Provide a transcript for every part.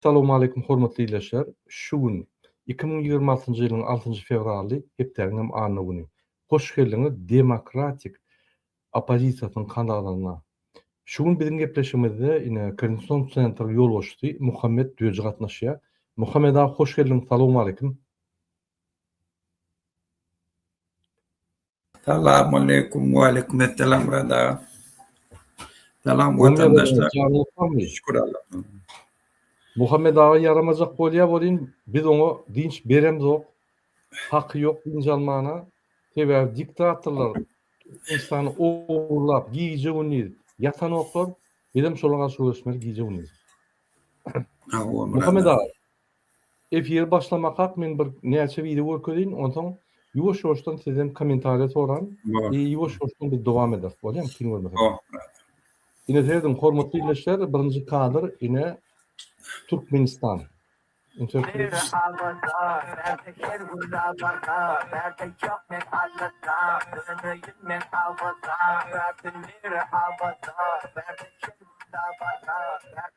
Salowmaleýkum hormatly ildeşler! Şu gün, iki müň ýigrimi altynjy ýylyň altynjy fewraly, hepdäniň hem anna güni. Hoş geldiňiz demokratik oppozisiýasynyň kanalaryna. Şu gün biziň gepleşigimizde ine Kensington Centeriň ýolbaşçysy Muhammet Döji gatnaşýar. Muhammet aga hoş geldiň, salowmaleýkim! Salamaleýkum, waleýkumessalam Murad aga. Salam watandaşlar. Şükür Allaha. Muhammet aga ýaramajak bolýa welin biz oňa dynç beremzok. Haky ýok dynç almana. Sebäbi diktatorlar Türkmenistany ogurlap gije gündiz ýatanoklar. Bizem şolara garşy göreşmeli gije gündiz. Muhammet aga. Efir başlamakak men bir näçe wideo görkezin onsaň ýuwaş ýuwaşdan sizden komentariýa soran i ýuwaş ýuwaşdan biz dowam ederis bolýamy kyn görmeseňiz. Ine serediň hormatly ildeşler birinji kadr ine Türkmenistan.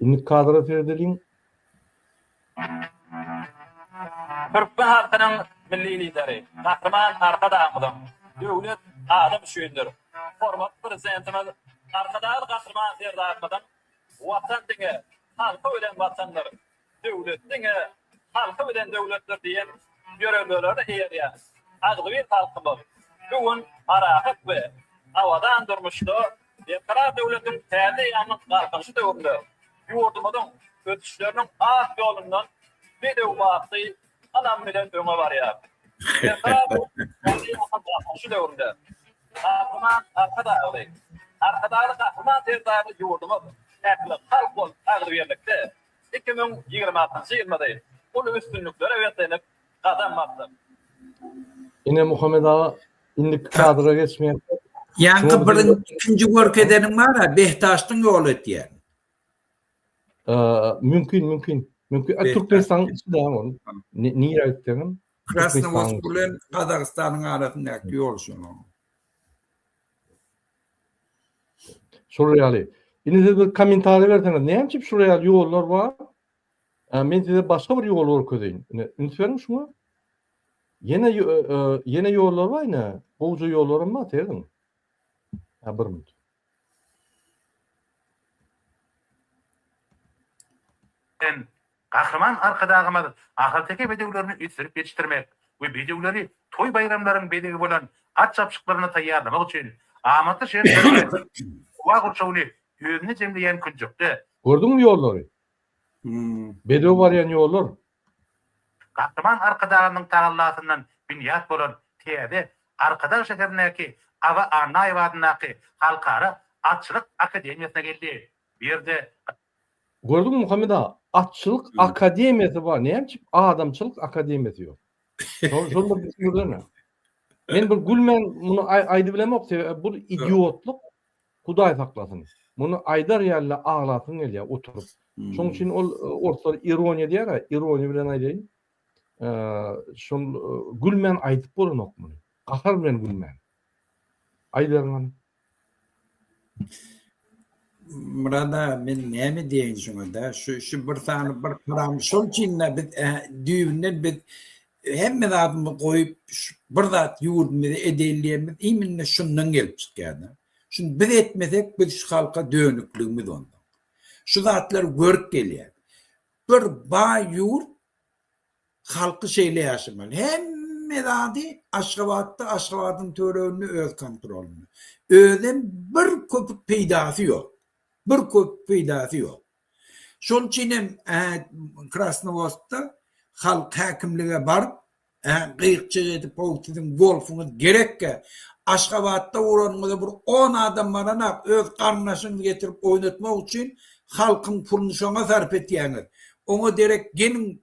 Indi kadra seredeliň. Türkmen halkynyň Milli Lideri, Gahryman Arkadagymyzyň Döwlet adam üçindir! Hormatly Prezidentimiz Arkadagly Gahryman Serdarymyzyň Watan diňe halky bilen Watandyr! Döwlet diňe halky bilen döwletdir diýen ýörelgelere eýerýän agzybir halkymyz bu gün parahat we abadan durmuşda Berkarar döwletiň täze eýýamynyň Galkynyşy döwründe ýurdumyzyň ösüşleriniň ak ýolundan bedew bagtly ynam bilen öňe barýar. Berkarar döwletiň täze eýýamynyň Galkynyşy döwründe Gahryman Arkadagly, Arkadagly Gahryman Serdarly ýurdumyz ähli halk bolup agzybirlikde Iki müň ýigrimi altynjy ýylda-da uly üstünliklere beslenip gadam basdyk. Ine Muhammet aga indiki kadra geçmeýärka. Ýaňky bir ikinji görkezeniň bar-a Behdaşdyň ýoly ötýär. Mümkin mümkin mümkin Türkmenistanyň içinde ol nire aýtdygyň. Krasnowosk bilen Gazagystanyň arasyndaky ýol şonuň. Şol ýaly. Indi siz bir kommentariýa berseňiz, näme üçin şol ýaly ýollar bar? Men size başga bir ýoly görkezeýin. Ine, üns beriň şuňa. Ýene ýene ýollar bar ine. Gowja ýollaram bar, seýrediň. Ha, bir minut. Gahryman Arkadagymyz ahalteke bedewlerini ösdürip ýetişdirmek we bedewleri toý-baýramlaryň bezegi bolan at çapyşyklaryna taýýarlamak üçin amatly şertleri we howa gurşawyny özünde jemleýän künjekde, Gördüňmi ýollary? Bedew barýan ýollar. Gahryman Arkadagymyzyň tagallasyndan binýat bolan täze Arkadag şäherindäki Aba Annaýewa adyndaky Halkara atçylyk akademiýasyna geldi. Bu ýerde Gördüňmi Muhammet aga, atçylyk akademiýasy bar, näme üçin adamçylyk akademiýasy ýok? Şol şol bir düşündirsene. Men bir gülmän muny aýdyp bilemok, sebäbi bu idiotlyk, Hudaý saklasyn. Muny aýdar ýaly-da aglasyň gelýär oturyp. Şonuň üçin ol orslar ironiýa diýer-ä, ironiýa bilen aýdaýyn. Şol gülmän aýdyp bolanok muny. Gahar bilen gülmän. Aýdalyňam. Murad aga men näme diýeýin şuňada şu şu bir sany bir param şol üçin-de biz düýbünden biz hemme zadymy goýup bir zat ýurdumyzy edeýin diýenimiz imminde şundan gelip çykýar-da. Şuny biz etmesek biz şu halka dönükligimiz onda. Şu zatlar görüp gelýär. Bir baý ýurt Halky şeýle ýaşamaly. Hemme zady Aşgabatda, Aşgabadyň töwereginde öz kontrolynda. Özem bir köpük peýdasy ýok. Bir köpük peýdasy ýok. Şol üçin hem Krasnowodskda halk häkimlige baryp, gyýykçyk edip, How siziň golfuňyz gerekkä? Aşgabatda uranyňyza bir on adam baranok, öz garyndaşyňyzy getirip oýnatmak üçin halkyň puluny şoňa sarp etýäňiz. Oňa derek geliň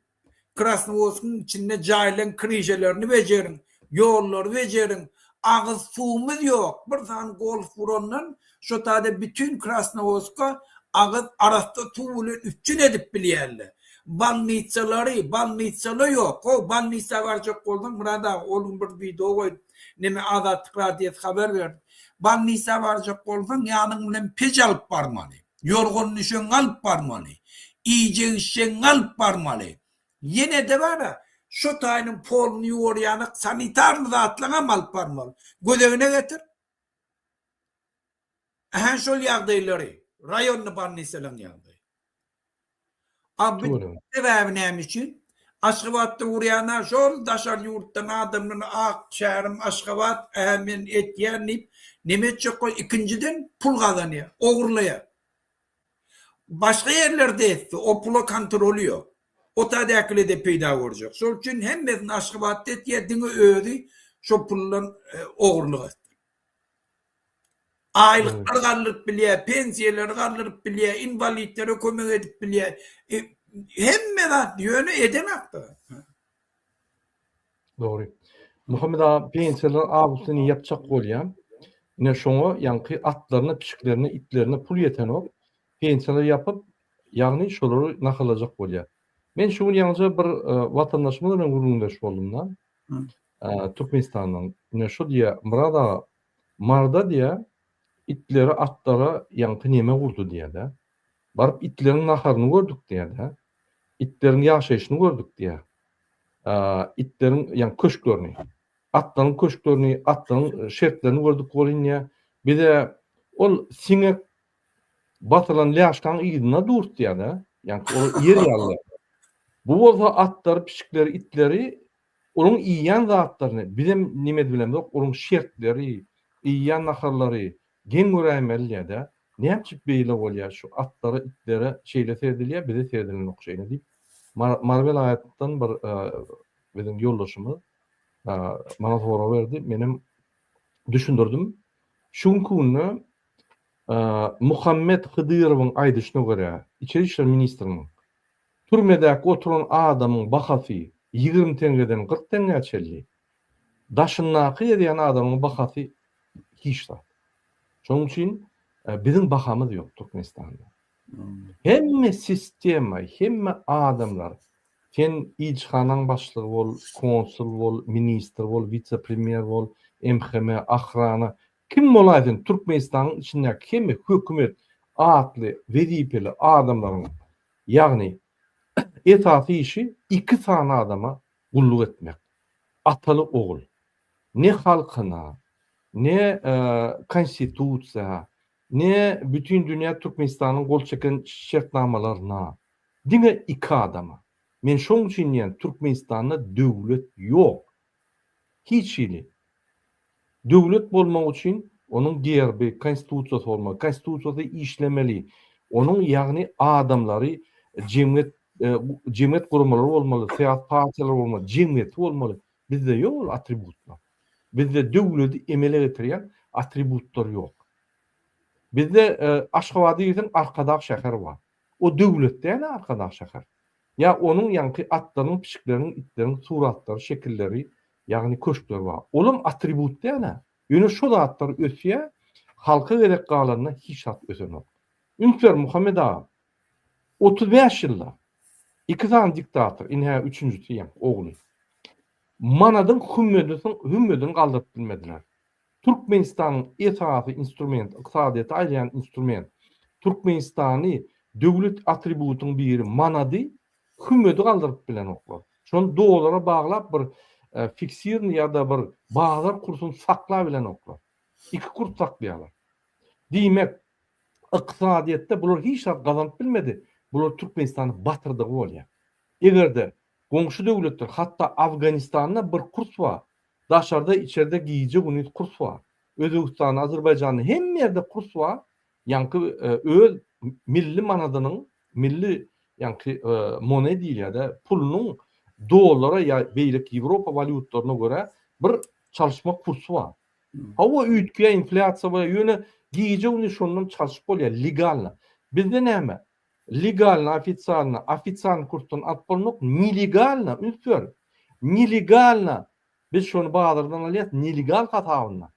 Krasnowodskiň içinde jaýlaň kirijelerini bejeriň, ýollary bejeriň, agyz suwumyz ýok, bir sany golf urandan şo taýda bütin Krasnowodska agyz arassa suw bilen üpjün edip bilýärler. Bolnitsalary, bolnitsala ýok, how bolnitsa barjak bolsaň Myrat aga ol gün bir wideo goýup neme Azatlyk radiosy habar berdi. Bolnitsa barjak bolsaň ýanyň bilen peç alyp barmaly. Ýorgan-düşegiňi alyp barmaly. Iýjek-içjegiňi alyp barmaly. Ýene-de bar-a, şo taýynyň poluny ýuwarýanok sanitarly zatlaňam alyp barmaly. Gözegine getir. Ähä şol ýagdaýlary, raýonny bolnisalaryň ýagdaýy. A bu sebäbi näme üçin? Aşgabatda urýan ha şol daşary ýurtdan adamlar ak şäherim Aşgabat ähä men etýän diýip näme etjekka ikinjiden pul gazanýar ogurlaýar. Başga ýerlerde etse o pula kontroly ýok. O tadäkilede peýda görjek. Şol üçin hemmesini Aşgabatda etýär diňe özi şo puldan ogurlyk etsin. Aýlyklary galdyryp bilýär, pensiýalary galdyryp bilýär, inwalitlere kömek edip bilýär. Hemme zat, ýöne edenakdyr. Dogry. Muhammet aga, pensiýalar awusyny ýapjak bolýar. Ine şoňa ýaňky atlaryna, pişiklerine, itlerine pul ýetenok. Pensiýalary ýapyp, ýagny şolary nahallajak bolýar. Men şu gün ýaňyja bir watandaşymyz bilen gürrüňdeş boldum-da. Türkmenistandan. Ine şo diýýär, Myrat aga, Marda diýýä, Itleri atlara ýaňky neme urdy diýýä-de. Baryp itleriň naharyny gördük diýýä-de. Itleriň ýaşaýşyny gördük diýýä. Itleriň, ýaňy köşklerini. Atlaryň köşklerini, atlaryň şertlerini gördük welin diýýä. Bize ol siňek basylan lýaşkaň yzyna durt diýýä-de. Ýaňky ol ýer ýaly. Bu bolsa atlary, pişikleri, itleri Onuň iýýän zatlaryny bizem neme edibilemzok, onuň şertleri, iýýän naharlary geň göräýmeliýä-dä, näme üçin beýle bolýa, şu atlara, itlere şeýle seredilýä, bize seredilenok şeýle diýip, Mary welaýatdan bir biziň ýoldaşymyz maňa sorag berdi, menem düşündirdim. Şu günki günde Muhammet Hydyrowyň aýdyşyna görä, Içeri işler ministriniň Türmedäki oturan adamyň bahasy ýigrimi teňňeden kyrk teňňä çenli, daşyndaky gezýän adamyň bahasy hiç zat. Şonuň üçin biziň bahamyz ýok Türkmenistanda. Hemme sistema, hemme adamlar, sen ilçihanaň başlygy bol, konsul bol, ministr bol, wise-premýer bol, MHM, ahrana, kim bolaýsyn Türkmenistanyň içindäki hemme hökümet atly wezipeli adamlaryň Ýagny, esasy işi iki sany adama gulluk etmek. Ataly-ogul. Ne halkyna, ne Konstitusiýa, ne bütin dünýä Türkmenistanyň gol çeken şertnamalaryna. Diňe iki adama. Men şoň üçin diýýän, Türkmenistanda döwlet ýok. Hiç hili. Döwlet bolmak üçin onuň gerbi, konstitusiýasy bolmaly. Konstitusiýasy işlemeli. Onuň, ýagny adamlary, jemgyýet, jemgyýet guramalary bolmaly, syýasy partiýalar bolmaly, jemgyýeti bolmaly. Bizde ýok ol atributlar. Bizde döwleti emele getirýän atributlar ýok. Bizde Aşgabada girseň Arkadag şäher bar. O döwlet däl-ä Arkadag şäher. Ýa onuň ýaňky atlaryň, pişikleriň, itleriň suratlary, şekilleri, ýagny köşkleri bar. Olam atribut däl-ä. Ýöne şo zatlar ösýär, halka gerek galanda hiç zat ösenok. Üns ber Muhammet agam. Otuz bäş ýylda iki sany diktator, indi hä üçünjisi ýaňky ogly. Manadyň hümmedisn hümmedini galdyryp bilmediler. Türkmenistanyň esasy instrument, ykdysadyýeti aýlaýan instrument, Türkmenistany döwlet atributyň biri manady, hümmedi galdyryp bilenoklar. Şony dollara baglap bir fiksirni ýa-da bir bazar kursuny sakla bilenoklar. Iki kurs saklaýarlar. Diýmek, ykdysadyýetde bular hiç zat gazanyp bilmedi, bular Türkmenistany batyrdygy bolýar. Eger-de Goňşy döwletler, hatda Afganistanda bir kurs bar. Daşarda, içerde gije-gündiz kurs bar. Özbegistanda, Azerbaýjanda hemme ýerde kurs bar. Ýaňky öz milli manadynyň, milli ýaňky mone diýilýär-dä, pulunyň dollara ýa beýleki Ýewropa walýutlaryna görä bir çalyşma kursy bar. Hawa, üýtgeýär, inflýasiýa bolýar, ýöne gije-gündiz şondan çalyşyp bolýar, legalna. Bizde näme? Legalno-ofisialno, ofisialny kursdan alyp bolmak, nelegalno, üns ber, nelegalno, biz şony bazardan alýas, nelegal hasabyna.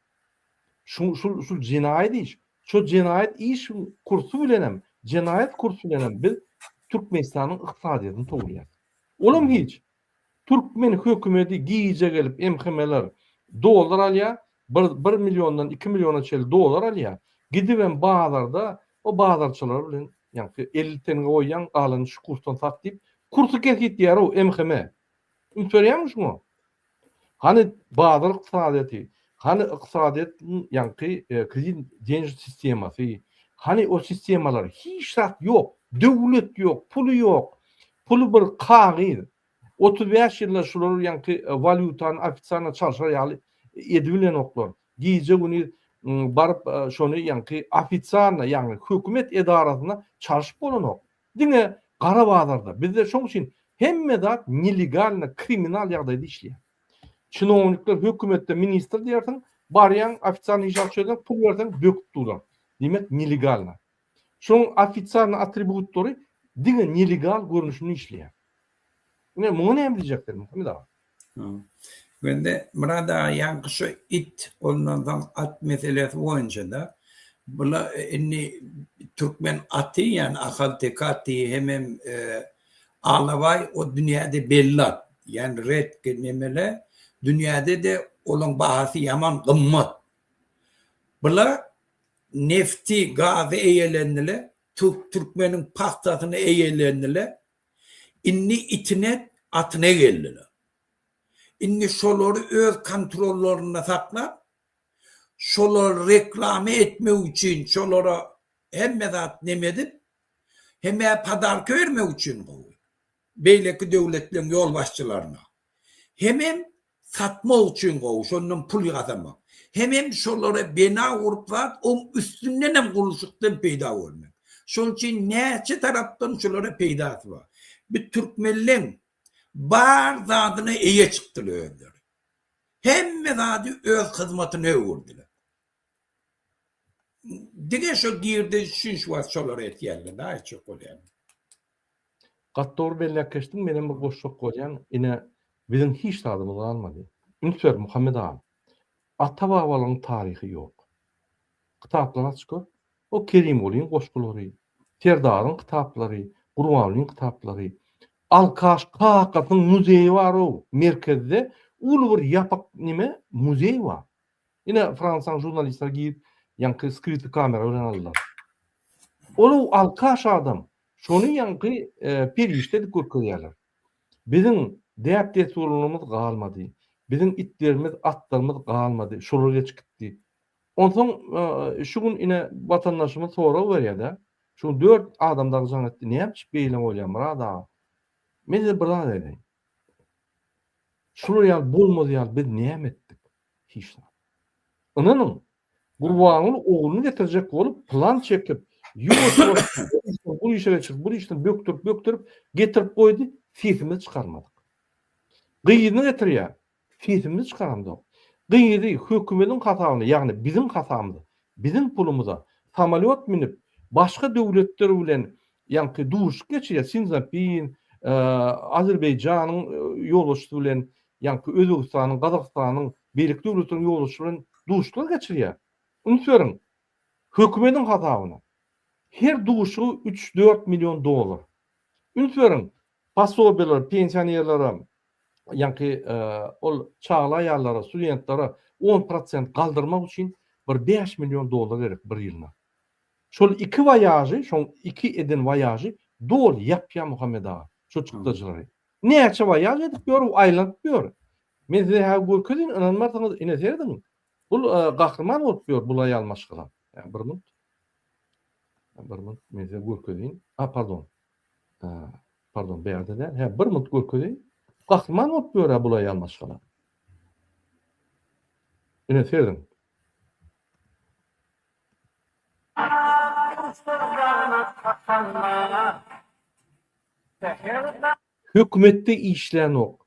Şu şul şul jenaýat iş. Şo jenaýat işiň kursy bilenem, jenaýat kursy bilenem biz Türkmenistanyň ykdysadyýetini towulýas. Olam hiç. Türkmen hökümedi gije gelip MHM'ler dollar alýa, bir bir milliondan iki milliona çeli dollar alýa, gidibem bazarda o bazarçylar bilen ýaňky elli tenge goýýaň galanyny şu kursdan sat diýip kursy kesgitleýärow MHM. Üns berýäňmi şuňa? Hany bazar ykdysadyýeti? Hany ykdysadyýetiň ýaňky kredit деньж sistemasy, hany o sistemalar, hiç zat ýok, döwlet ýok, puly ýok, puly bir kagyz, otuz bäş ýylda şular ýaňky walýutany ofitsialno çalşar ýaly edibilenoklar, gije gündiz baryp şony ýaňky ofitsialno ýagny hökümet edarasyna çalşyp bolanok, diňe gara bazarda, bizde şoň üçin hemme zat nelegalno, kriminal ýagdaýda işleýär. Çinownikler hökümetde ministr diýersiň, barýaň ofitsialnyý işe akça ýöräp, pul berseň böküp duraň. Diýmek nelegalna. Şoň ofitsialnyý atributlary diňe nelegal görnüşinde işleýär. Ine muňa näme diýjek sen Muhammet aga? Indi Murad aga ýaňky şu it ondan soň at meselesi boýunçada bula indi türkmen aty ýani ahalteke aty hemem Alabaý o dünýäde belli at, ýagny redki nemele, dünýäde-de olaň bahasy ýaman gymmat. Bular nefti, gazy eýelendiler, türkmeniň pagtasyny eýelendiler. Indi itine, atyna geldiler. Indi şolary öz kontrollarynda saklap, şolar reklama etmek üçin şolara hemme zat neme edip, Hemä podarka bermek üçin gowy. Beýleki döwletleriň ýolbaşçylaryna. Hemem satmak üçin gowy, şondan pul ýasamak. Hemem şolara bina gurup zat oň üstündenem gurluşykdan peýda görmek. Şol üçin näçe tarapdan şulara peýdasy bar. Bi türkmenleň bar zadyna eýe çykdylar özleri. Hemme zady öz hyzmatyna öwürdiler. Diňe şo girdeji üçin şu wagt şolary etýärler da aýtjak bolýan. Gaty dogry belläp geçdiň menem bir goşjak bolýan ine biziň hiç zadymyz galmady. Üns ber Muhammet agam. Ata babalaň taryhy ýok. Kitaplary aç gör. O Kerimgulyň goşgulary, Serdaryň kitaplary, Gurbanlyň kitaplary. Alkaş kakasyň muzeýi bar o merkezde uly bir ýapyk nime muzeý bar. Ine, Fransaň žurnalistleri girip, ýaňky skryty kamera bilen aldylar. Ol-ow alkaş adam, şony ýaňky perişde edip görkezýärler. Biziň däp-dessurlarymyz galmady. Biziň itlerimiz, atlarymyz galmady, şolar geçip gitdi. Onsoň şu gün ine watandaşymyz sorag berýär-de, şu dört adam dagy jaň etdi, näme üçin beýle bolýar, Murad aga? Men size bir zat aýdaýyn. Şular ýaly bolmaz ýaly biz näme etdik? Hiç zat. Ynanyň, Gurbanguly ogluny getirjek bolup plan çekip, bu işe çyk, bu işden bökdürip-bökdürip getirip goýdy, sesimizi çykarmadyk. Gyzyny getirýär, Sesimizi çykaramzok. Gyzy hökümediň hasabyna, ýagny biziň hasabymyza, biziň pulumyza samolýot münüp, başga döwletler bilen ýaňky duşuşyk geçirýär, Sinzapin, Azerbaýjanyň ýolbaşçysy bilen, ýaňky Özbegistanyň, Gazagystanyň, beýleki döwletleriň ýolbaşçysy bilen duşuşyklar geçirýär. Üns beriň, hökümediň hasabyna. Her duşuşygy üç-dört million dollar. Üns beriň, Posobiýalar pensionerlere, ýaňky ol çagly aýallara, studentlere on prosent galdyrmak üçin bir bäş million dollar gerek bir ýylyna. Şol iki waýažy, şoň iki eden waýažy doly ýapýar Muhammet aga, şo çykdajylary. Näçe waýaž edip ýör, aýlanyp ýör. Men size häzir görkezeýin, ynanmarsyňyz, ine serediň. Bul gahryman bolup ýör bul aýal maşgala. Bir minut. Bir minut, men size görkezeýin. A, pardon. Pardon, bärde däl. Hä, bir minut görkezeýin. Gahryman bolup ýör-ä bul aýal maşgala. Ine, sezin. Hökümetde işlänok.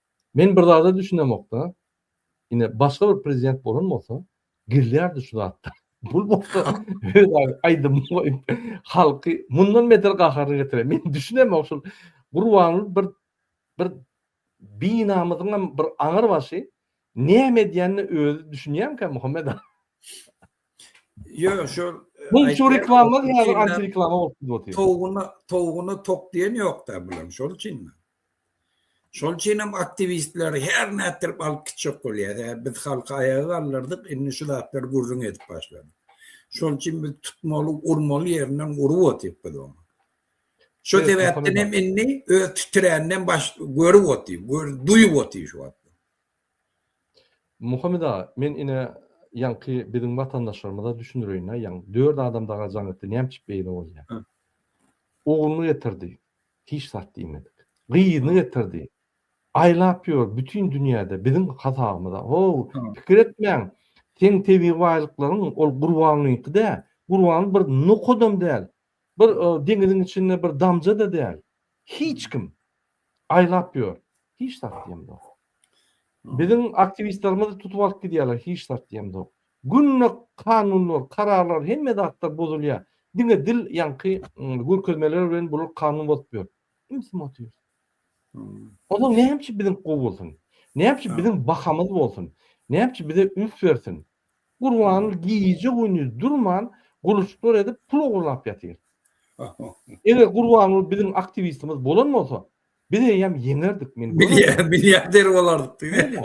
Men bir zada düşünemokda ine başga bir prezident bolan bolsa gelýärdi şu zatda bul bolsa aýdym goýup halky mundan beter gaharyny getirer men düşünemok şul gurbanly bir bir binamyzyňam bir aňyr başy näme edýänini özi düşünýänkä muhammed Ýok, şol Mum şu reklama diýýär, antireklama bolup gidip otyr. Towguna, towguna tok diýen ýok-da bulam, şol üçin. Şol üçin hem aktiwistleri her nätdirip alyp gitjek bolýar. Hä, biz halky aýaga galdyrdyk, indi şu zatlary gürrüň edip başladyk. Şol üçin biz tutmaly, urmaly ýerinden urup otyryk biz ony. Şo sebäpden hem indi öz titräninden baş görüp otyr, gör, duýup otyr şu wagt. Muhammet aga, men ine ýaňky biziň watandaşlarymyza düşündireýin-ä, ýaňy dört adam daga jaň etdi, näme üçin beýle bolýar? Ogluny getirdi. Hiç zat diýmedik. Gyzyny getirdi. Aýlap ýör bütin dünýäde biziň hasabymyza. How, pikir etmäň. Seň tebigy baýlyklaryň ol Gurbanlyňky dä. Gurban bir nokadam däl. Bir deňiziň içinde bir damja-da däl. Hiç kim. Aýlap ýör. Hiç zat diýemzok. Biziň aktiwistlerimizi tutup alyp gidýärler. Hiç zat diýemzok. Günde kanunlar, kararlar hemme zatlar bozulýar. Diňe dil ýaňky görkezmeler bilen bular kanun bozup ýör. Imsim otyr. Onda näme üçin biziňki gowy bolsun? Näme üçin biziň bahamyz bolsun? Näme üçin bize üns bersin? Gurban gije gündiz durman gurluşyklar edip pul ogurlap ýatyr. Eger Gurbanguly biziň aktiwistimiz bolan bolsa, biz eýýäm ýeňerdik men. Bilýär, bilýär der bolardyk diýdi.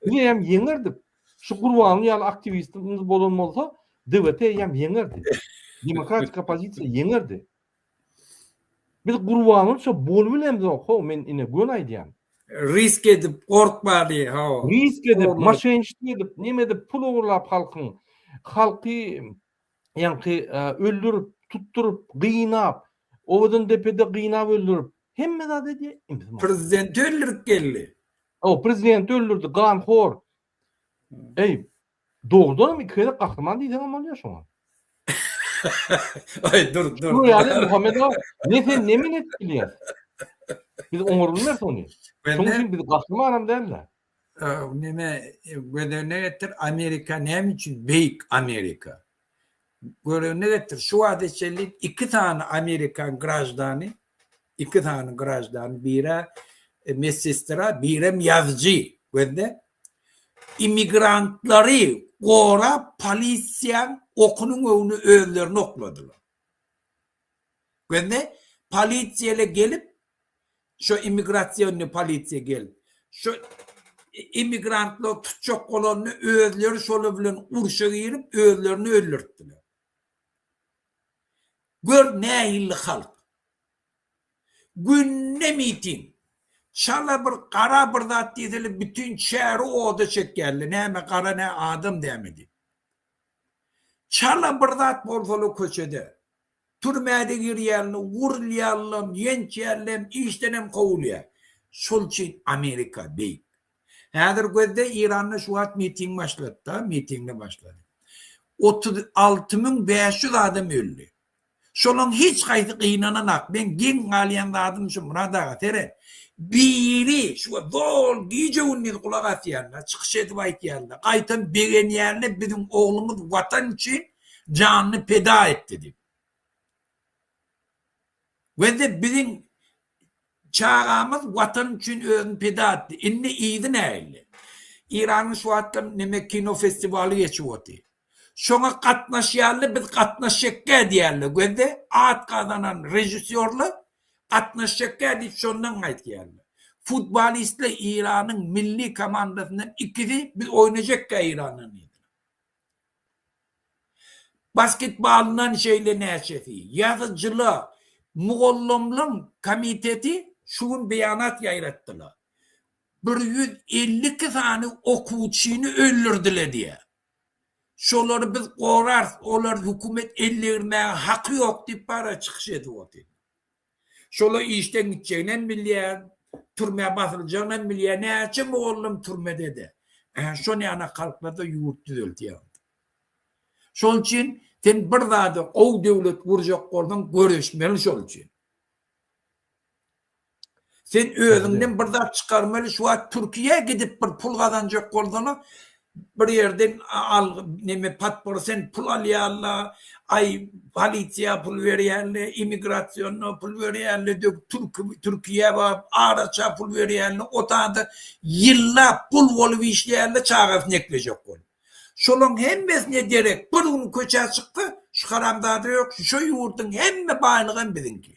Biz eýýäm ýeňerdik. Şu Gurbanguly ýaly aktiwistimiz bolan bolsa, DWT ýam ýeňerdi. Demokratik oppozisiýa ýeňerdi. Biz Gurbangulyça bolup bilemizok, ho, men ine göni aýdýan. Risk edip, gorkmady, ho. Risk edip, maşenşik edip, neme edip, pul ogurlap halkyň, halky ýaňky öldürip, tutduryp, gynap, Owadandepede gynap öldürip, hemme zat edýär. Prezidenti öldürip geldi. O prezidenti öldürdi gan hor. Eý, dogrudanam iki gezek gahryman diýseňem bolýar şoňa. Aý, dur, dur. Dur ýaly Muhammed aga, ne sen ne men edip bilýäs. Biz oňar bilmeris ony. Şoň üçin biz gahrymanam däl-de. Neme göz öňüne getir, Amerika näme üçin beýik Amerika? Göz öňüne getir, şu wagta çenli iki sany amerikan graždany Iki sany graždan biri medsestra, birem ýazyjy gözde immigrantlary gorap polisiýaň okunyň öwüne özlerini okladylar. Gözde polisiýa ile gelip şo immigrasionny polisiýa gelip şo immigrantlar tutjak bolanda özleri şolar bilen urşa girip özlerini öldürtdiler. Gör nähilli halk. Günde miting. Çala bir gara bir zat diýsele bütin şäri oda çekýärler näme gara nä adam dämi diýip. Çala bir zat bolsala köçede. Türmäde girýärler, urulýarlam, ýençýärlem, işdenem kowulýar. Şol üçin Amerika beýik. Häzir gözle Iranda şu wagt miting başlady da mitingde başlady. Otuz alty müň bäş ýüz adam öldi. Şolaň hiç haýsy gynananak meň geň galýan zadym şu Myrat aga seret biri şu wagt zol gije gündiz gulak asýanda çykyş edip aýtýanda gaýtam begenýände biziň oglumyz watan üçin janyny peda etdi dip. Gözle biziň Çagamyz watan üçin özüni pida etdi. Indi yzy nähili? Iranyň şu wagtlar neme kino festiwaly geçip otyr. Şoňa gatnaşýarly biz gatnaşjakgä diýýärler gözde at gazanan režissýorlar gatnaşjakgä diýip şondan gaýtýarlar. Futbolistler Iranyň milli komandasyndan ikisi biz oýnajakgä Irandan diýdiler. Basketbalyndan şeýle näçesi. Ýazyjylar, mugallamlaryň komiteti şu gün beýanat ýaýratdylar. Bir ýüz elli iki sany okuwçyny öldürdiler diýýär. Şolary biz gorarys, olary hökümet ellegirmäge haky ýok diýip bara çykyş edip otyrlar. Şola işden gitjeginem bilýä, türmä basyljagynyam bilýä, näçe mugallym türmede-de. Ähä, şo näna kalklarda ýurt düzeltýär. Şonuň üçin sen bir zada gowy döwlet gurjak bolsaň, göreşmeli şol üçin. Sen özüňden bir zat çykarmaly, şu wagt Türkiýä gidip bir pul gazanjak bolsaň, Bir ýerden algy neme podpor sen pul alýarla aý polisiýa pul berýärle immigrasiýona pul berýärle dög türki türkiýä baryp araça pul berýärle otada ýyllap gul bolup işleýärle çagasyny eklejek bolup şolaň hemmesine derek bir gün köçä çyksa şu haramzada ýok şu şo ýurdyň hemme baýlygam biziňki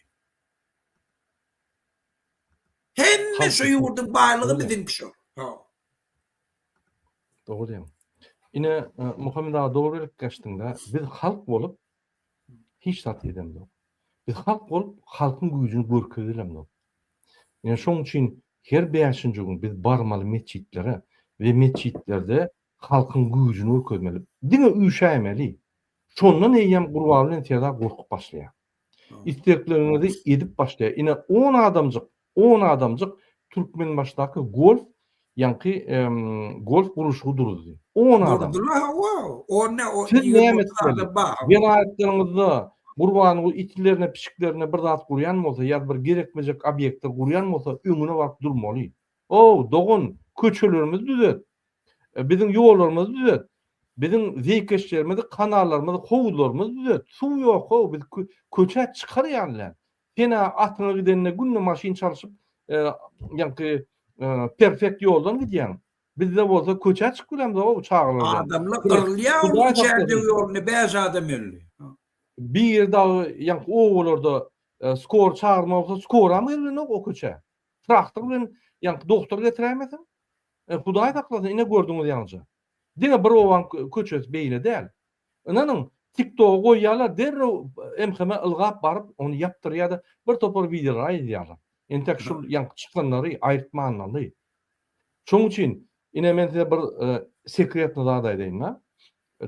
hemme şo ýurdyň baýlygy biziňki şo. Dogry diýiň. Ine, Muhammet aga dogry gelip geçdiňdä. Biz halk bolup hiç zat edemzok. Biz halk bolup halkyň güýjüni görkezelemzok. Ine şoň üçin her bäşinji gün biz barmaly metjitlere we metjitlerde halkyň güýjüni görkezmeli. Diňe üşäýmeli. Şondan eýýäm Gurban bilen Serda gorkup başlaýar. Islekleriňizi edip başlaýar. Ine on adamjyk On adamjyk Türkmenbaşydaky golf ýaňky golf gurluşygy duruzdy. On adam. Durdular hawa. On ne o Siz näme etmeli? Welaýatlaryňyzda Gurbanguly itlerine, pişiklerine bir zat gurýan bolsa ýa bir gerekmejek obýekti gurýan bolsa öňüne baryp durmaly. Ow, dogan, köçelerimizi düzet. Biziň ýollarymyzy düzet. Biziň zeýkeşlerimizi, kanallarymyzy, howuzlarymyzy düzet. Suw ýok-ow, biz köçä çykar ýaly däl. Sen-ä atyňa gidende günde maşyn çalşyp, ýaňky perfekt ýoldan gidýäň. Bizde bolsa köçä çykyp bilemzok-ow çagalar bilen. Adamlar gyrylýar onuň üçäýjek ýolunda bäş adam öldi. Bir dagy ýaňky obalarda skor çagyrma bolsa skoram gelmänok o köçä. Traktor bilen ýaňky doktor getiräýmeseň. Hudaý saklasyn ine gördüňiz ýaňja. Diňe bir obaň köçesi beýle däl. Ynanyň, TikToga goýýarlar, derrew MHM ylgap baryp, ony ýapdyrýar-da, bir topar wideolar aýylýarlar. Entek şul ýaňky çykanlary aýyrtmanlaly. Şonuň üçin, ine, men size bir sekretny zat aýdaýyn-da,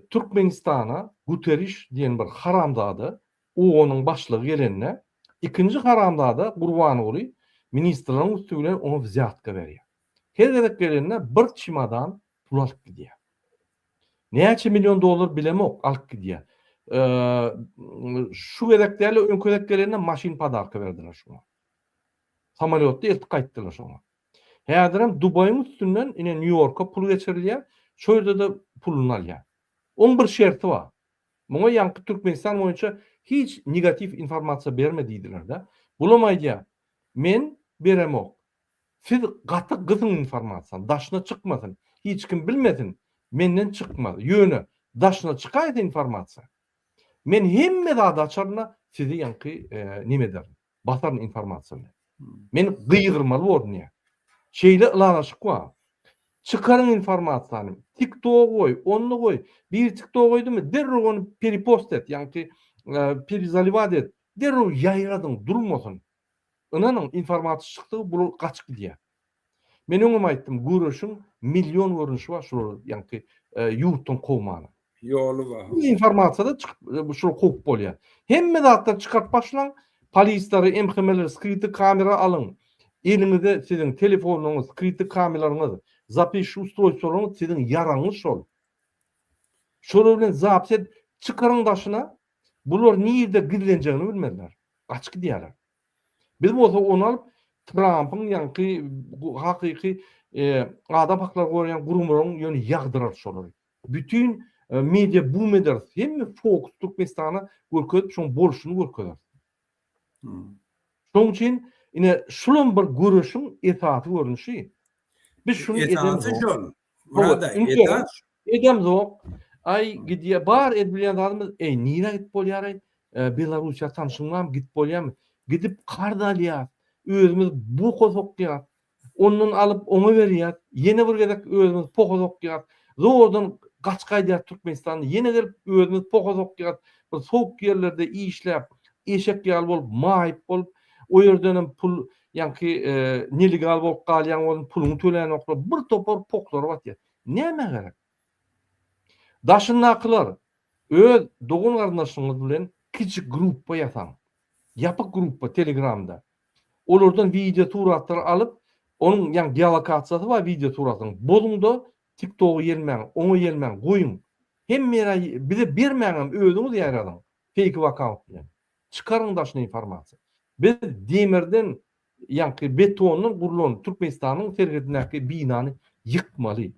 Türkmenistana Guterriş diýen bir haramzada, OON-yň başlygy gelende, ikinji haramzada Gurbanguly ministrleriň üsti bilen oňa wzýatka berýär. Her gezek gelende bir çimadan pul alyp gidýär. Näçe million dollar bilemok, alyp gidýär. Şu gezek däl, öňki gezek gelende maşyn podarka berdiler şoňa. Samolýotda eltip gaýtdylar şoňa. Häzirem Dubaýyň üstünden ine Nýu-Ýorka pul geçirilýär, şo ýerde-de puluny alýar. Oň bir şerti bar. Muňa ýaňky Türkmenistan boýunça hiç negatiw informasiýa berme diýdiler-de. Bulam aýdýar, men beremok. Siz gaty gysyň informasiýany daşyna çykmasyn hiç kim bilmesin menden çykmaz ýöne daşyna çykaýsa informasiýa men hemme zady açarynda sizi ýaňky neme ederin basaryn informasiýa bilen men gygyrmaly boldum ýa şeýle ylalaşyk bar çykaryň informasiýany tik tok goý onda goý biri tik tok goýdymy derrew ony peripost et ýaňky perizaliwat et derrew ýaýradyň durmasyn Ynanyň, informaty çykdy, bular gaçyp gidýär. Men öňem aýtdym, göreşiň million görnüşi bar, şular ýaňky ýurtdan kowmana. Ýoly bar. Bu informasyýada çykyp, şular kowup bolýar. Hemme zatlary çykaryp başlaň, polisleri, MHM-leri skrity kamera alyň. Eliňize siziň telefonlaryňyz, skrity kamelaryňyz, zapis ustrojsolaryňyz siziň ýaragyňyz şol. Şolar bilen zapis edip çykaryň daşyna, Bular nirde gizlenjegini bilmezler. Gaçyp gidýärler. Biz bolsa ony alyp Trampyň ýaňky hakyky adam haklaryny goraýan gurumlaryň ýöne ýagdyrarys şolary. Bütin media bum ederis. Hemme fokus Türkmenistana görkezip şoň bolşuny görkezeris. Şoň üçin ine şulam bir göreşiň esasy görnüşi. Biz şuny edemok. Esasy şol. Burada это Edem zok. Ay gidiye bar ed bilen zadymyz. Ey nira git bolyar ay. E, Belarusiya tanşyň bar git bolyar mı? Gidip karz alya. Özümüz bu kosok ya. Ondan alıp ona veriya. Yine bir gezek özümüz poho zok ya. Zordan kaç kaydiya Türkmenistan. Yine gelip özümüz poho zok ya. Bu soğuk yerlerde işlep. Eşek yal bol, mayip bol. O yerden pul Ýaňky nelegal bolup galýan bolun puluny tölänoklar bir topar poklary batýar. Nämä gerek? Daşyndakylar öz dogan garyndaşyňyz bilen kiçi gruppa ýasaň. Ýapyk gruppa telegramda. Olardan wideo suratlary alyp onuň ýaň geolokasiýasy bar wideo suratyň. Bozuňda TikToka ýelmäň, oňa ýelmäň goýuň. Hemme ýere bize bermäňem özüňiz ýaýradyň feýk akkaunt bilen. Çykaryň daşyna informasiýa. Biz demirden ýaňky betondan gurlan Türkmenistanyň serhedindäki binany ýykmaly.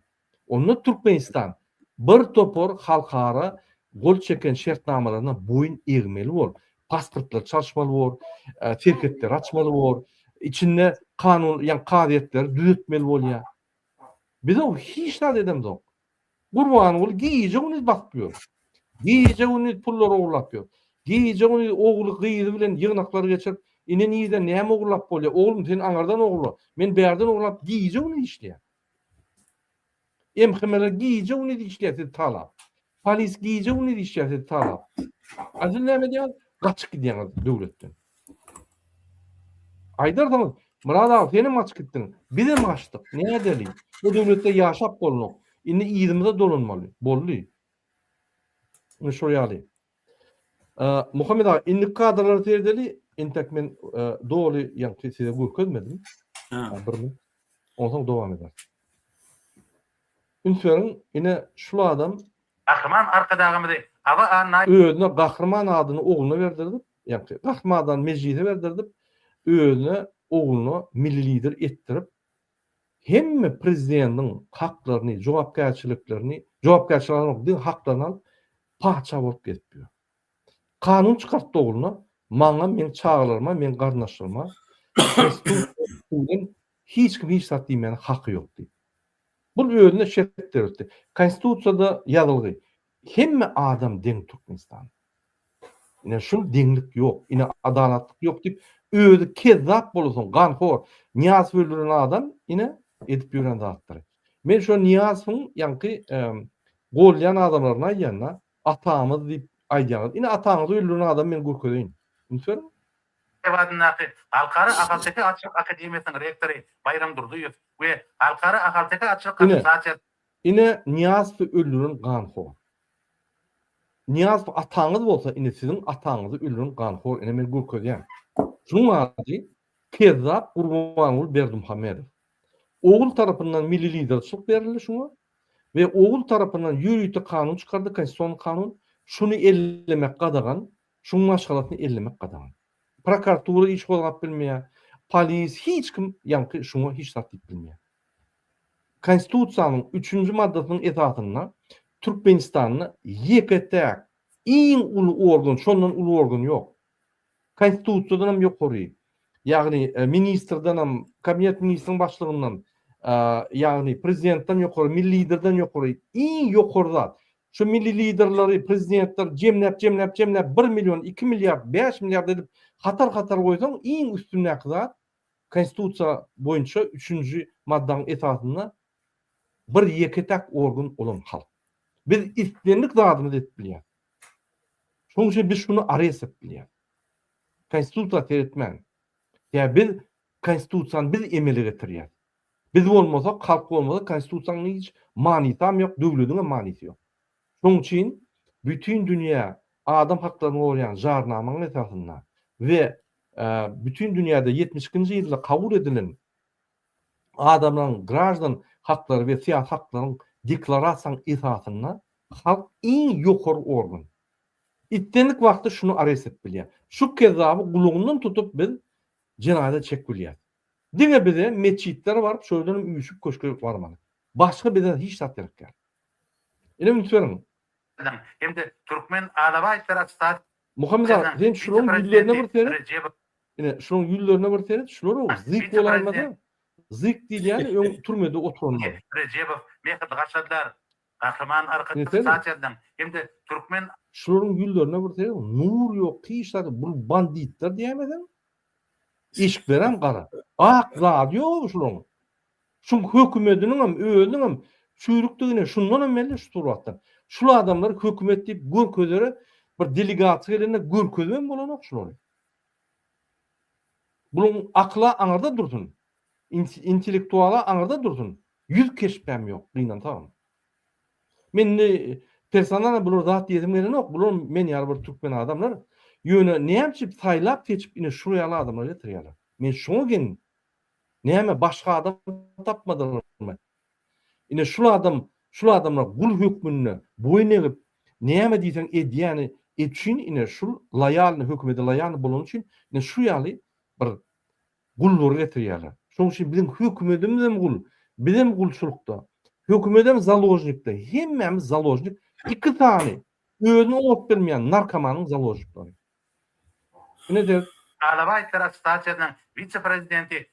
Onda Türkmenistan bir topar halkara gol çeken şertnamalaryna boýun egmeli bor. Pasportlary çalşmaly bor, serhetleri açmaly bor, içinde kanun ýa kazyýetleri düzetmeli bolýar. Biz o hiç zat edemzok. Gurbanguly gije-gündiz basyp ýör. Gije-gündiz pullar ogurlap ýör. Gije-gündiz ogly, gyzy bilen ýygnaklar geçirip, Ine-nireden näme ogurlap bolýar? Oglum, sen aňardan ogurla. Men bärden ogurlap gije-gündiz işleýän. MHM-ler gije-gündiz işleýär sizi talap. Polis gije-gündiz işleýär sizi talap. A siz näme edýäňiz? Gaçyp gidýäňiz döwletden. Aýdarsyňyz, Myrat aga senem gaçyp gitdiň, bizem gaçdyk, ne edeli, bu döwletde ýaşap bolnok, indi yzymyza dolanmaly, boldy. Indi şol ýaly. Muhammet aga, indiki kadrlary seredeli, entek men doly ýaňky size görkezmedim. Bir mün. Onsoň dowam ederis. Üns beriň, ine şul adam Gahryman Arkadagymyzy Aba Annaýew özüne Gahryman adyny ogluna berdirip, Ýaňky Gahmadany Mejlise berdirdip, özüne, ogluna milli lider etdirip, hemme prezidentiň haklaryny, jogapkärçiliklerini, jogapkärçilik alanok, diňe haklaryny alyp, patyşa bolup gezip ýör. Kanun çykartdy ogluna, maňa, meň çagalaryma, meň garyndaşlaryma hiç kim hiç zat diýmäne haky ýok diýip. Bul özüne şert döretdi. Konstitusiýada ýazylgy, Hemme adam deň Türkmenistanda. Ine şul deňlik ýok, ine adalatlyk ýok diýip özi kezzap bolasoň ganhor Nyýazow öldüren adam ine edip ýören zatlary. Men şo Nyýazowyň ýaňky gollaýan adamlaryny aýdýanda atamyz diýip aýdýaňyz. Ine ataňyzy öldüren adamy men görkezeýin. Ünsberiň. Lebapdyndaky Halkara ahalteke atçylyk akademiýasynyň rektory Baýram Durdyýew we Halkara ahalteke atçylyk assosiasiýasynyň Ine Nyýazowy öldüren ganhor. Nyýazow ataňyz bolsa indi siziň ataňyzy öldüren ganhor ine men görkezýän. Şunuň ady kezzap Gurbanguly Berdimuhamedow. Ogul tarapyndan milli liderçilik berildi şuňa we ogul tarapyndan ýörite kanun çykardy konstitusion kanun şuny ellemek gadagan şuň maşgalasyny ellemek gadagan. Prokartura iş gozgap bilmeýär, polis hiç kim ýaňky şuňa hiç zat diýip bilmeýär. Konstitusiýanyň üçünji maddasynyň esasynda Türkmenistanda ýeke-täk iň uly organ, şondan uly organ ýok. Konstitusiýadan hem ýokary, ýagny ministrden hem, Kabinet ministriniň başlygyndan, ýagny prezidentden ýokary, milli liderden ýokary iň ýokary zat. Şu milli liderleri, prezidentleri jemläp, jemläp, jemläp bir million, iki milliard, bäş milliard edip hatar-hatar goýsaň iň üstündäki zat Konstitusiýa boýunça üçünji maddaň esasynda bir ýeke-täk organ olam halk. Biz islendik zadymyzy edip bilýäs. Şoň üçin biz şuny ares edip bilýäs. Konstitusiýa seretmän. Ýa biz konstitusiýany biz emele getirýäs. Biz bolmasak, halk bolmasa konstitusiýanyň hiç manysam ýok, döwlediňem manysy ýok. Şoň üçin bütin dünýä adam haklaryny goraýan jarnamaň esasynda we bütin dünýäde ýetmiş ikinji ýylda kabul edilen Adamlaryň graždan haklary we syýasy haklaryň deklarasiýasynyň esasynda halk iň ýokary organ. Islendik wagtda şuny arest edip bilýär. Şu kezzaby gulagyndan tutup biz jenaýada çekip bilýäris. Diňe bize metjitlere baryp şol ýerden hem üýşüp köşke barmaly. Başga bize hiç zat gerek däl. Ine üns beriň. Hem-de Türkmen alabaý serastat Muhammet aga, sen şularyň ýüzlerine bir seret. Ine, şularyň ýüzlerine bir seret, şular-ow zyýyk bolaýmasa, zyýyk diýilýäni öň türmede oturanlar. Rejebow, Mehdi garşadylar. Gahryman Arkadagymyz Satiýadan hem-de türkmen. Şularyň ýüzlerine bir seret, nur ýok, hiç zat ýok. Bul banditler diýäýmeseň. Eşiklerem gara. Ak zady ýok-ow şularyň. Şuň hökümediniňem özüniňem çüýrükdigini şundanam belli şu suratdan. Şul adamlary hökümet diýip görkezere bir delegasiýa gelende görkezibem bolanok şulary. Buluň akyla aňyrda dursun. Intellektuala aňyrda dursun. Ýüz keşbem ýok gynansagam. Men indi personalna bular zat diýesim gelenok. Bular men ýaly bir türkmen adamlar. Ýöne näme üçin saýlap seçip ine şuýaly adamlary getirýärler. Men şuňa geň Näme, başga adam tapmadyňyzmy? Ine, şul adam, şul adamlar gul hökmünde boýun egip, näme diýseň edýäni üçin, ine, şul loýalny, hökümete loýalny bolany üçin, ine, şu ýaly bir gullary getirýärler. Şonuň üçin biziň hökümetimizem gul, bizem gulçulykda, hökümetem založnikde, hemmämiz založnik, iki sany özüne ot bermeýän narkomanyň založnikleri. Alabaý ferostasiýasynyň wise-prezidenti.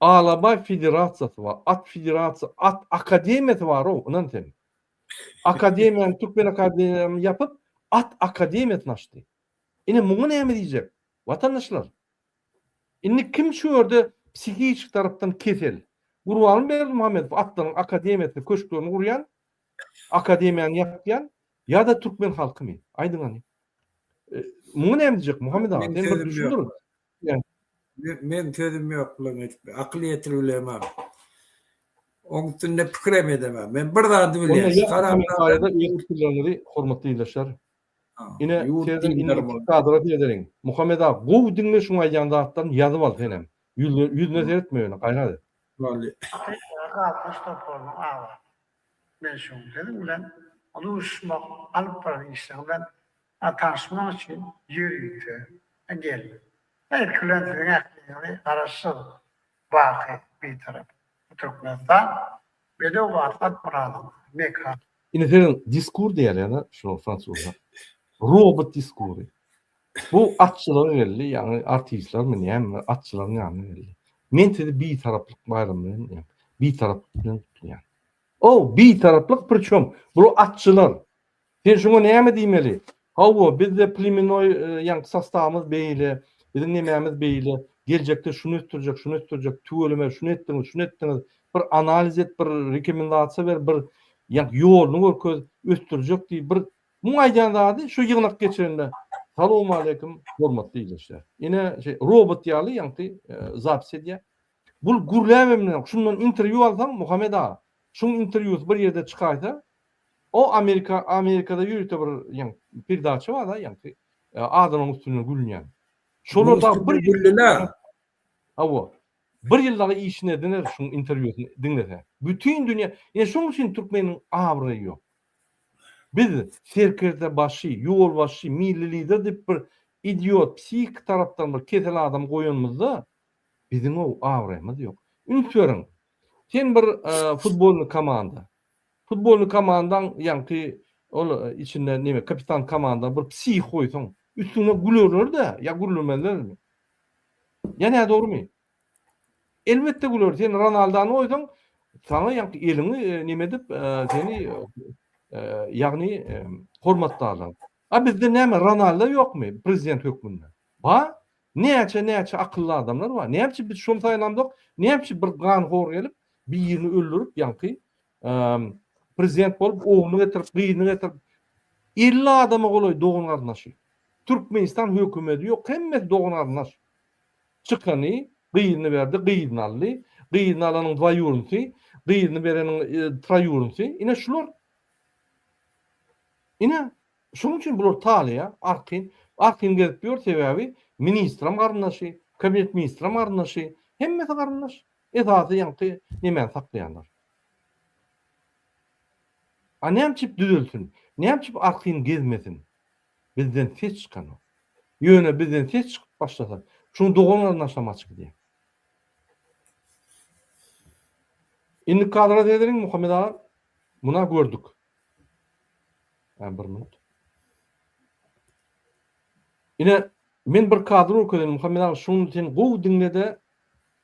Alabaý federasiýasy bar. At federasiýasy, at akademiýasy bar-ow, ynan sen. Akademiýany, türkmen akademiýany ýapyp, at akademiýasyny açdy. Ine, muňa näme diýjek, watandaşlar? Indi kim şu ýerde psihiki tarapdan kesel? Gurbanberdi Muhammedow atlaryň akademiýasyny, köşklerini gurýan Akademiýany ýapýan ýa-da türkmen halkymy? Aýdyň hany. Muňa näme diýjek Muhammet aga? Sen bir düşündir. Men sözüm ýok bulan hiç akyl ýetirip bilemem. Oň üstünde pikirem edemem. Men bir zady bilýän. Karamdaýda ýurt dilleri hormatly ildeşler. Ine, sözüm indi kadra ýetirin. Muhammet aga, gowy diňle şuň aýdýan zatlaryny ýazyp al senem. Ýüzüne seretme ýöne gaýrat et. Bolýar. Halkyň toparynyň awazy. Men şu gün siziň bilen uly uruşmak alyp baran işler bilen tanyşmak üçin ýörite geldim. Ilki bilen siziň ähliňizi Garaşsyz, baky Bitarap Türkmenistan bedew bar Satmyradyň mekany. Indi siziň diskur diýýärler-dä şunuň fransuzça. Robot diskury. Bu atçylar geldi, ýagny artistlermi, näme, atçylaryň ýanyna geldi. Men sizi Bitaraplyk baýramy bilen diýýän. Bitaraplyk bilen gutlaýan. O, Bitaraplyk prçom, bular atçylar. Sen şuňa näme diýmeli? Hawa, bizde plemennoý, ýagny sostawymyz beýle, biziň nemämiz beýle, geljekde şuny ösdürjek, şuny ösdürjek, tüweleme şuny etdiňiz, şuny etdiňiz, bir analiz et, bir rekomendasiýa ber, bir ýagny ýoluny görkez, ösdürjek diý, bir Muň aýdýan zady şu ýygnak geçende salowmaleýkim hormatly ildeşler. Ine şey robot ýaly ýaňky zapis edýär. Bul gürläbemden şundan interwýu alsaň Muhammed aga. Şuň interwýusy bir ýerde çykaýsa o Amerika Amerikada ýörite bir ýaň perdaça bar da ýaňky adamyň üstüne gülýän. Şolar da bir gülleler. Hawa. Bir ýyl dagy işine diner şuň interwýusyny diňlese. Bütin dünýä, ýa şuň üçin türkmeniň abraýy ýok. Biz serkerdebaşy, ýolbaşçy, milli lider diýip bir idiot, psihiki tarapdan bir kesel adamy goýanymyzda, biziň-ow abraýymyz ýok. Üns beriň, sen bir futbolny komanda, futbolny komandaň ýaňky ol içinde neme kapitan komanda bir psihik goýsaň, üstüňe gülerler-dä ýa gürlemezlermi? Ýa nädogrymy? Elbetde güler. Sen Ronaldany goýsaň, saňa ýaňky eliňi näme edip, seni ýagny hormatlarlar. A bizde näme Ronaldo ýokmy prezident hökmünde? Bar. Näçe näçe akylly adamlar bar. Näme üçin biz şony saýlamzok? Näme üçin bir ganhor gelip, birini öldürip, ýaňky Prezident bolup ogluny getirip gyzyny getirip 50 adama golaý dogan garyndaşy. Türkmenistan hökümedi ýok hemmesi dogan garyndaş. Çykany gyzyny berdi gyzyny aldy. Gyzyny alanyň dwaýurnsy gyzyny bereniň traýurnsy ine şular. Ine şonuň üçin bular talyýa arkin arkin gezip ýör sebäbi ministram garyndaşy kabinet ministram garyndaşy hemmesi garyndaş esasy ýaňky nemäni saklaýanlar. A näme üçip düzelsin? Näme üçip artyn gezmesin? Bizden ses çykanok. Ýöne bizden ses çykyp başlasa, şuň dogan-garyndaşam aç gidýär. Indi kadra seredeliň Muhammet aga. Muna gördük. Ä bir minut. Ine, men bir kadr görkezeýin Muhammet aga, şuny sen gowy diňle-de,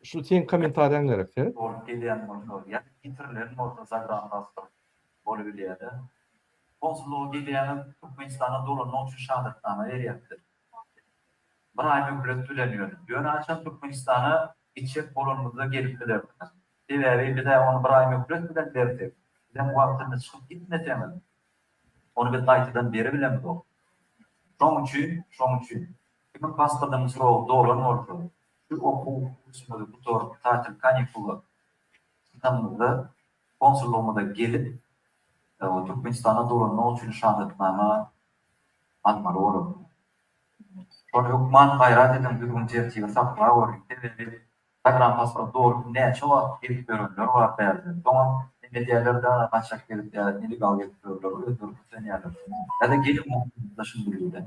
Şu seň komentariýaň gerek seret. Bolup gelýän bolsa ýa ýitirilen bolsa zagrangastro bolubilýäda. Konsullyga gelýäňiz Türkmenistana dolanmak üçin şahadatnama berýäpdir. Bir aý möhlet bilen ýöne. Ýöne haçan Türkmenistana gitjek bolanymyzda gelip bilersiňiz. Sebäbi bizä ony bir aý möhlet bilen bersek, sizem wagtynda çykyp gitmeseňiz, ony biz gaýtadan beribilemzok. Şoň üçin, şoň üçin. Kimiň pasportynyň srogy dolan bolsa, Şu okuw usuly gutaryp, tatil kanikula çykanymyzda konsullygymyza gelip, Türkmenistana dolanmak üçin şahadatnama almaly bolarsyňyz. Şol hökman gaýrat ediň, düzgün-tertibi saklaweriň, sebäbi zagrampasport dolup näçe wagt gelip ýörenler bar bärde, soňam hem edýärler-de, gaçak gelip ýa nelegal gelip ýörler, özleri kösenýärler. Ýa-da gelin bolsaňyz-da şindi-birden.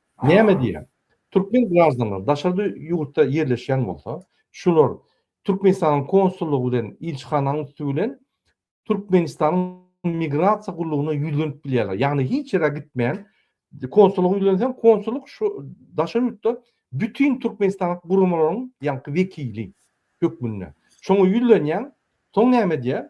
Näme diýýär? Türkmen graždanlary daşary ýurtda ýerleşýän bolsa, şular Türkmenistanyň konsullygy bilen ilçihananyň üsti bilen Türkmenistanyň migrasiýa gullugyna ýüzlenip bilýärler. Ýagny hiç ýere gitmän konsullyga ýüzlenseň, konsullyk şu daşary ýurtda bütin Türkmenistanly guramalaryň ýaňky wekili hökmünde. Şoňa ýüzlenýäň, soň näme edýär?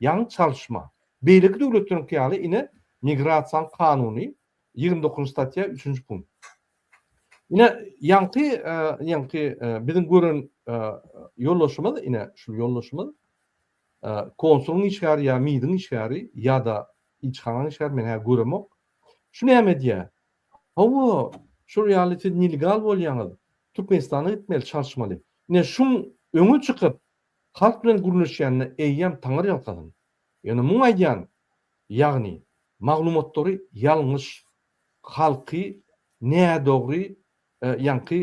Ýaňy çalyşma. Beýleki döwletleriňki ýaly ine Migrasiýaň kanuny ýigrimi dokuzynjy statýa üçünji punkt. Ine ýaňky ýaňky biziň gören ýoldaşymyz ine şul ýoldaşymyz konsulyň işgäri ýa midiň işgäri ýa-da ilçihanaň işgäri men hä göremok. Şu näme edýär? Hawa şul ýaly siz nilgal bolýaňyz Türkmenistana gitmeli çalyşmaly. Ine şuň öňe çykyp Halk bilen gürleşýänine eýýäm taňar ýalkasyn. Ýöne muň aýdýan ýagny maglumatlary ýalňyş halky nädogry ýaňky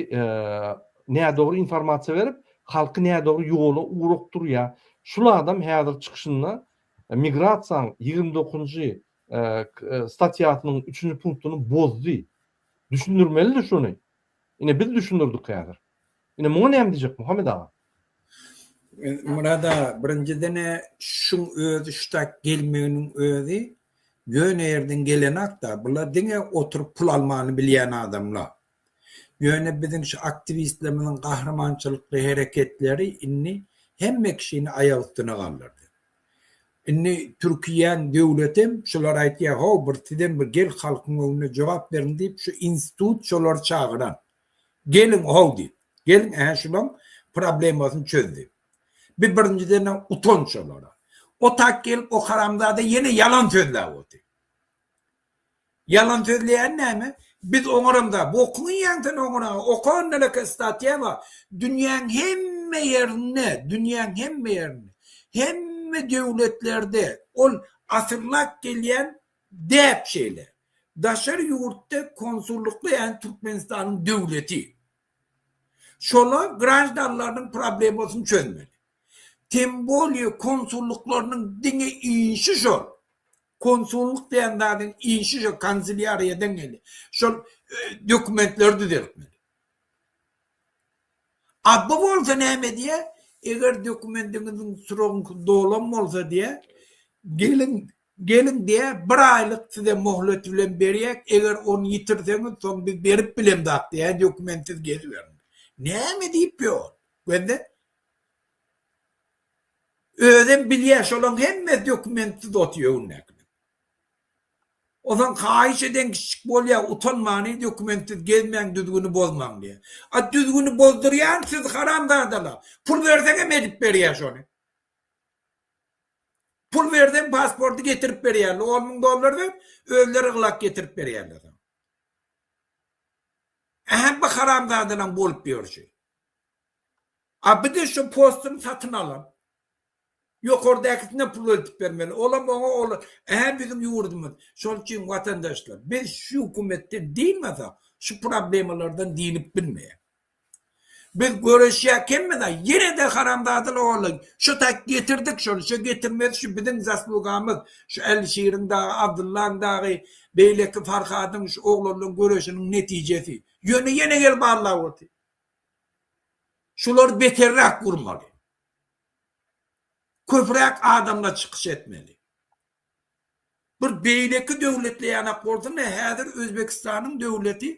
nädogry informasiýa berip halky nädogry ýola ugrukdurýa. Şul adam häzir çykyşynda migrasiýaň ýigrimi dokuzynjy statýasynyň üçünji punktyny bozdy. Düşündirmelidi şuny. Ine biz düşündirdik häzir. Ine muňa näme diýjek Muhammet aga. Murad aga, birinjiden-ä şuň özi, şu tak gelmeginiň özi ýöne ýerden gelenok-da. Bular diňe oturyp pul almany bilýän adamlar. Ýöne biziň şu aktiwistlerimiziň gahrymançylykly hereketleri indi hemme kişini aýak üstüne galdyrdy. Indi türkiýäň döwletem şular aýtýar, Haw, bir sizem bir gel halkyň öňünde jogap beriň diýip, şu institut şolary çagyran. Gelin how diýip. Gelin ä şulaň problemasyny çözdi. Bi birinjiden-ä utanç olara. Otak gelip o haramzada ýene ýalan sözläp oty. Ýalan sözleýäni näme? Biz oňaramda, bu okumaýaň sen oňara, oka ondanaka statýa bar. Dünýäň hemme ýerinde, dünýäň hemme ýerinde, hemme döwletlerde ol asyrlap gelýän Däp şeýle. Daşary ýurtda konsullyklaýan Türkmenistanyň döwleti şolar graždanlarynyň problemasyny çözmeli. Tem bolýa konsullyklarynyň diňe işi şol. Konsullyk diýen zadyň işi şo kanselýariýa deň gelýä. Şol dokumentleri düzeltmeli. A bu bolsa näme diýä, eger dokumendiňiziň srogyňky dolan bolsa diýä, geliň Geliň diýýä, bir aýlyk size möhlet bilen berýäk, eger ony ýitirseňiz, soň biz berip bilemzok diýýä, dokumentsiz geziberiň. Näme diýip ýa ol? Gözle. Özem bilýä, şolaryň hemmesi dokumentsiz otyr öňündäkiler. Onsoň haýyş eden kiçijik bolýa, utanmany dokumentsiz gezmäň, düzgüni bozmaň diýýä. A düzgüni bozdurýan siz haramzadalar. Pul berseňem edip berýä şony. Pul berseň pasporty getirip berýärler, on müň dollar ber, özleri ylak getirip berýärler saňa. Ähli bu haramzadalaryň bolup ýörşi. A bir de şu postuny satyn alan, ýokardakisine pul eltip bermeli, olam oňa ol ähli biziň ýurdumyz. Şonuň üçin watandaşlar, biz şu hökümetden dynmasak, şu problemalardan dynyp bilmeýäris. Biz göreşýäkemizä ýenede haramzadalar ollaý şo taýt getirdik şony şo getirmeli şu biziň zaslugamyz şu Älişiriň dagy Abdyllaň dagy beýleki Farhadyň şu oglanlaň göreşiniň netijesi ýöne ýene gelip allap otyr şular beterräk gurmaly köpräk adamlar çykyş etmeli. Bir beýleki döwletle ýanak bolsam-da, häzir Özbegistanyň döwleti,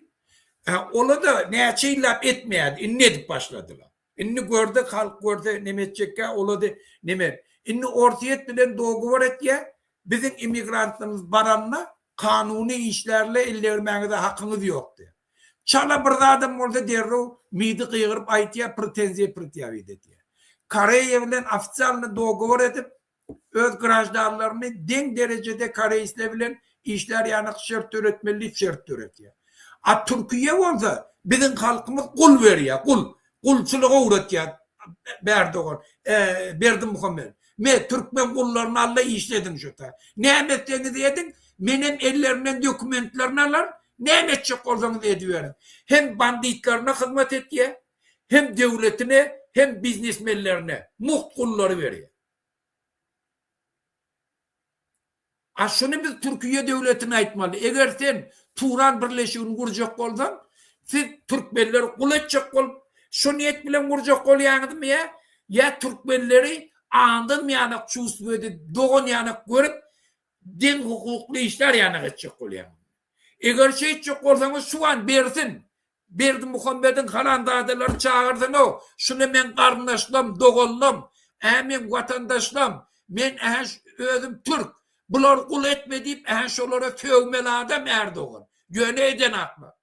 ola-da näçe ýyllap etmeýärdi, indi edip başladylar. Indi görse, halk görse neme etjekkä, ola-da neme. Indi Orsýet bilen dogowar etýär, biziň emigrantlarymyz baranda kanuny işlärle ellegirmäňize hakyňyz ýok diýýär. Çala bir zadam bolsa derrew midi gygyryp aýtýar, pretenziýa-pretýawit etýär. Koreýa bilen ofisialny dogowar edip, öz graždanlaryny deň derejede koreýsler bilen işlär ýanak şert döretmeli diýip şert döretýär. A Türkiýe bolsa, biziň halkymyz gul berýär, gul, gulçulyga ugratýar Bärdogan, Berdimuhamedow. Me, türkmen gullaryny al-da işlediň şu taý. Näme etseňiz ediň, menem ellerinden dokumentlerini alar, näme etjek bolsaňyz ediberiň. Hem banditlerine hyzmat etýär, hem döwletine, hem biznesmenlerine mugt gullary berýär. A şuny biz Türkiýe döwletine aýtmaly, eger sen Turan birleşigini gurjak bolsaň, siz türkmenleri gul etjek bolup, şu niýet bilen gurjak bolýaňyzmy ýa, ýa türkmenleri andan ýanak çüwstübedi dogan ýanak görüp, deň hukukly işler ýanak etjek bolýaňyzmy? Eger şeýtjek bolsaňyz şu an bersin, Berdimuhamediň haramzadalary çagyrsyn-ow, şuny meň garyndaşlam, doganlam, ä meň watandaşlam, men ä özüm türk, bular gul etme diýip ä şolara sögmeli adam Ärdogan, ýöne edenaklar.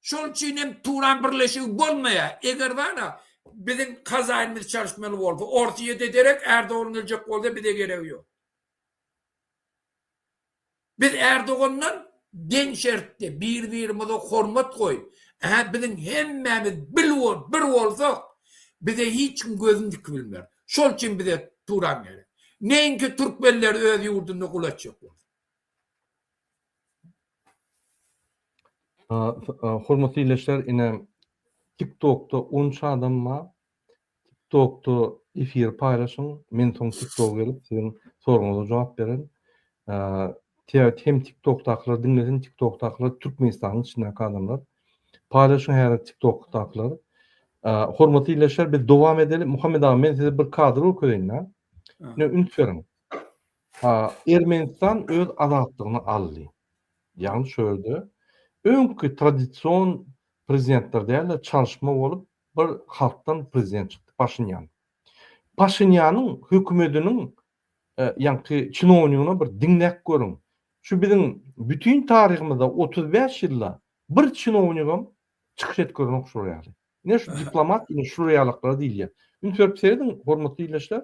Şol üçin hem Turan birleşigi bolmaýa, eger bana biziň hazaýnymyz çalyşmaly bolsa, orus ýete derek Ärdogan geljek bolsa bize geregi ýok. Biz Erdogandan deň şertde bir-birimize hormat goýup, Ä-hä biziň hemmämiz bil bol, bir bolsak, bize hiç kim gözüni dikip bilmez. Şol üçin bize Turan gerek. Neýinki türkmenler öz ýurdunda gul etjek bolsa. Hormatly ildeşler ine TikTokda onça adam bar. Tik tokda efiri paýlaşyň men soň tik toga gelip siziň soragyňyza jogap beren. Tea hem tik tokdakylar diňlesin tik tokdakylar Türkmenistanyň içindäki adamlar. Paýlaşyň häzir tik tokdakylar. Hormatly ildeşler biz dowam edeli Muhammet aga men size bir kadr görkezeýin da. Ne üns beriň. Ermenistan öz azatlygyny aldy. Ýagny şu ýerde öňki tradision prezidentler däl-de çalyşma bolup Bir halkdan prezident çykdy Paşinýan. Paşinýanyň hökümediniň ýaňky çinownigyna bir diňläp görüň. Şu biziň bütin taryhymyzda otuz bäş ýylda bir çinownigem çykyş edip görenok şular ýaly. Ine şu diplomat ine şular ýalaklara diýilýär. Üns berip serediň hormatly ildeşler.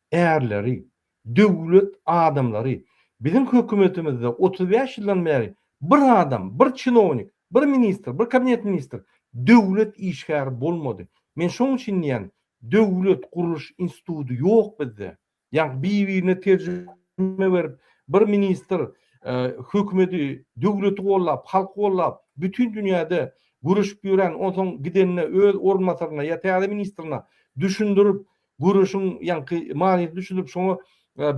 Ärleri, döwlet adamlary, biziň hökümetimizde otuz bäş ýyldan bäri bir adam, bir çinownik, bir ministr, bir kabinet ministr, döwlet işgäri bolmady. Men şoň üçin diýýän, döwlet gurluş institudy ýok bizde. Ýa-da bir-birine terjime berip, bir ministr hökümeti, döwleti gollap, halky gollap, bütin dünýäde göreşip ýören, onsoň gidende öz orunbasaryna ýa täze ministrine düşündirip, göreşiň ýaňky manysyny düşünip şoňa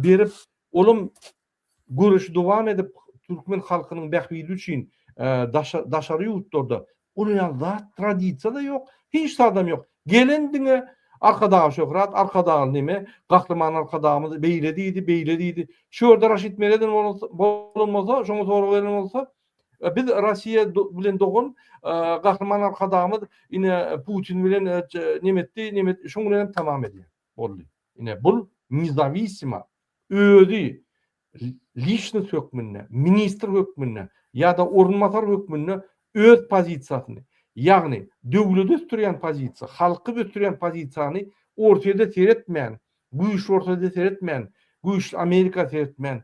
berip olam göreşi dowam edip türkmen halkynyň bähbidi üçin daşary ýurtlarda guraýan zat tradisiýada ýok hiç zadam ýok gelen diňe arkadagy şöhrat arkadagy neme gahryman arkadagymyz beýle diýdi beýle diýdi şu ýerde raşit meredow bolan bolsa şoňa sorag beren bolsa Biz Rossiýa bilen dogan Gahryman Arkadagymyz ine Putin bilen neme etdi, neme etdi, şoň bilen hem tamam edýär. Boldy. Ine bul nizawissima özi lişnis hökmünde, ministr hökmünde ýa-da orunbasar hökmünde öz pozisiýasyny, ýagny döwleti ösdürýän pozisiýa, halky ösdürýän pozisiýany Orsýede seretmän, güýçli Orsýede seretmän, güýçli Amerika seretmän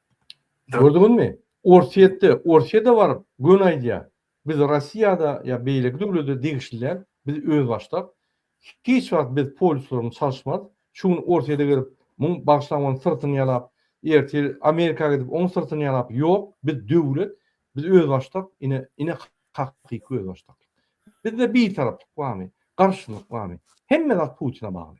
Gördüňizmi? Orsýetde, Orsýede baryp göni aýdýar, Biz Rossiýada ýa beýleki döwlede degişli däl, biz özbaşdak, hiç wagt biz polisler bilen çalyşmarys, şu gün Orsýede gelip, muň bagşylaň onuň syrtyny ýalap, ertir Amerika gidip, oň syrtyny ýalap, ýok, biz döwlet, biz özbaşdak, ine, ine hakyky özbaşdaklyk. Bizde bitaraplyk barmy, garşylyk barmy? Hemme zat Putine bagly.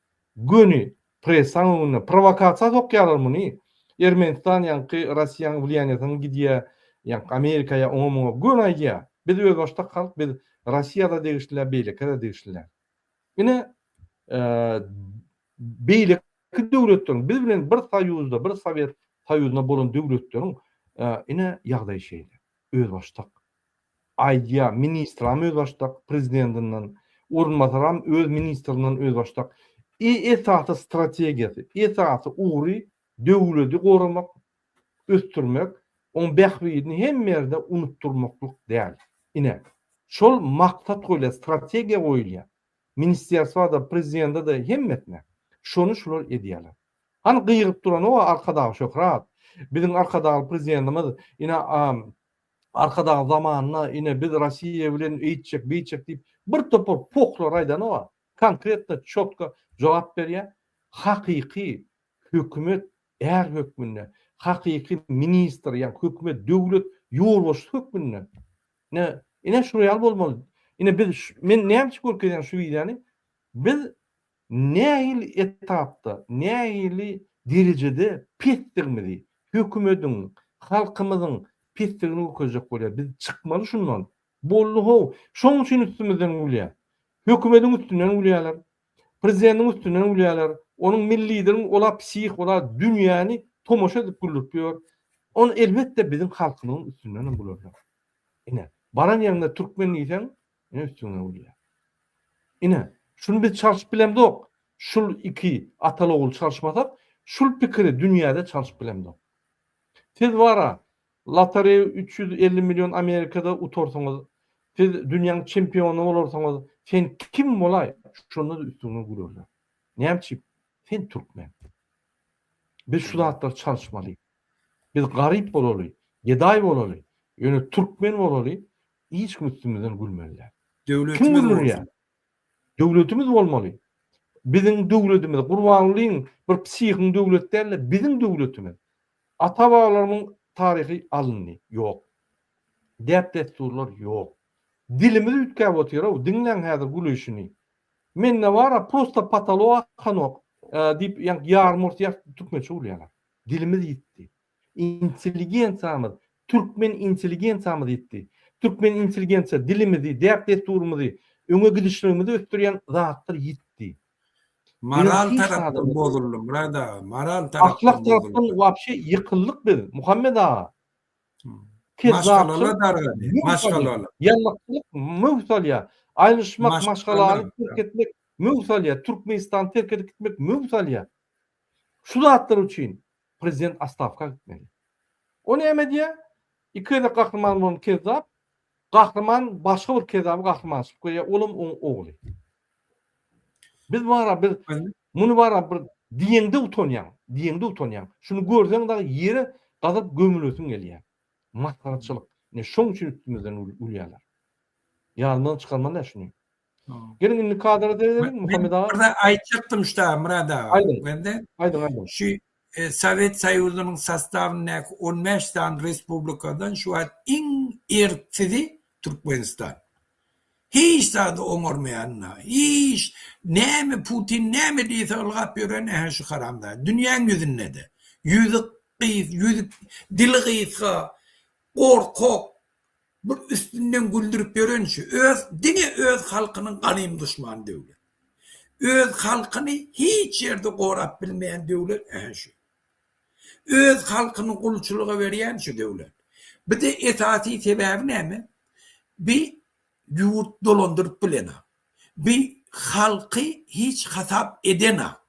Göni pressaň öňünde prowakasiýa sokýarlar muny. Ermenistan ýaňky Rossiýanyň wlýaniýasyna gidýä, ýaňky Amerikaýa oňa muňa göni aýdýa. Biz özbaşdak halk biz Rossiýada degişlä beýlekäde degişlä. Ine beýleki döwletleriň biz bilen bir soýuzda bir sowet soýuzynda bolan döwletleriň ine ýagdaýy şeýle özbaşdak. aýdýar, ministram özbaşdak, prezidentinden orunbasaram öz ministrinden özbaşdak. E esasy strategiýasy, esasy ugry döwleti goramak, ösdürmek, oň bähbidini hemme ýerde unutdyrmaklyk däl. Ine, şol maksat goýulýar, strategiýa goýulýar. Ministerstwa-da, prezidente-de, hemmesine. Şony şular edýärler. Hany gygyryp duran o Arkadag Şöhrat, biziň Arkadagly prezidentimiz ine Arkadag zamanynda ine biz Rossiýa bilen eýtjek beýtjek diýip bir topar pohlary aýdanok-a, konkretno çotko jogap berýä, hakyky hökümet är hökmünde, hakyky ministr ýa hökümet döwlet ýolbaşçysy hökmünde ine ine şuňaýaly bolmaly, ine biz men näme üçin görkezýän şu wideony biz nähili etapda, nähili derejede pesdigimizi, hökümediň, halkymyzyň pesdigini görkezjek bolýar. Biz çykmaly şundan. Boldy how, şoň üçin üstümizden gülýär. Hökümediň üstünden gülýärler. Prezidentiň üstünden gülýärler. Onuň milli lideriň ola psih, ola dünýäni tomaşa edip güldürip ýör. Onda elbetde biziň halkymyzyň üstündenem gülerler. Ine, baran ýeriňde türkmen diýseň, Ine üstüňden gülýär. Ine, şuny biz çalşyp bilemzok. Şul iki ataly-ogul çalşmasak, şul pikiri dünýäde çalşyp bilemzok. Siz bar-a, lotoreýa üç ýüz elli million Amerikada utarsyňyz, siz dünýäň çempiony bolarsyňyz, sen kim bolaý, şonda-da üstüňden gülerler. Näme üçin? Sen türkmen. Biz şu zatlary çalşmaly. Biz garyp bolaly, gedaý bolaly, ýöne türkmen bolaly, Hiç kim üstümizden gülmeli däl. Kim gülürýä? Döwletimiz bolmaly. Biziň döwletimiz, gurbangulyň bir psihiň döwlet däl-de, biziň döwletimiz. Ata-babalarymyň taryhy alyndy, ýok. Däp-dessurlar ýok. Dilimiz üýtgäp otyr-ow, diňläň häzir gülüşini. Mende bar-a, prosta patolog akanok, diýip, ýaňky ýarym ors ýaş türkmençe gülýärler. Dilimiz ýitdi. Intelligensiýamyz, türkmen intelligensiýamyz ýitdi. Türkmen intelligensiýa dilimizi, däp-dessurymyzy, öňe gidişligimizi ösdürýän zatlar ýitdi. Moral tarapdan bozuldy Myrat aga, moral tarapdan. Ahlak tarapdan wapşe ýykyldyk biz, Muhammet aga. Maşgalalar dargady, maşgalalar. Ýalňyşlyk möwç salýar. Aýrylyşmak, maşgalany terk etmek möwç salýar. Türkmenistany terk edip gitmek möwç salýar. Şu zatlar üçin Prezident astawka gitmeli. O näme diýä? Iki gezek gahryman bolan kezzap, gahryman başga bir kezzaby gahryman çykyp gelýär, olam oň ogly. Biz bara bir muny bara bir diýeňde utanýaň, diýeňde utanýaň. Şuny görseň dagy ýere gazyp gömülesiň gelýär. Masgaraçylyk. Ine şoň üçin üstümizden gülýärler. Ýadymyzdan çykarmaly-ä şuny. Geliň indi kadra seredeliň Muhammet aga. Birde aýtjakdym şu dagy Myrat aga. Aýdyň. Bende. Aýdyň aýdyň. Şu Sowet Soýuzynyň sastawyndaky on bäş sany respublikadan şu wagt iň erksizi Türkmenistan. Hiç zady oňarmaýan da. Hiç näme Putin näme diýse ylgap ýören ähli şu haramzada. Dünýäň ýüzündede. Ýüzi gysga, dili gysga, gorkak. Bir üstünden güldürip ýören şu öz diňe öz halkynyň gadym duşmany döwlet. Öz halkyny hiç ýerde gorap bilmeýän döwlet ähä şu. Öz halkyny gulçulyga berýän şu döwlet. Bide esasy sebäbi näme? Bi ýurt dolandyryp bilenok. Bi halky hiç hasap edenok.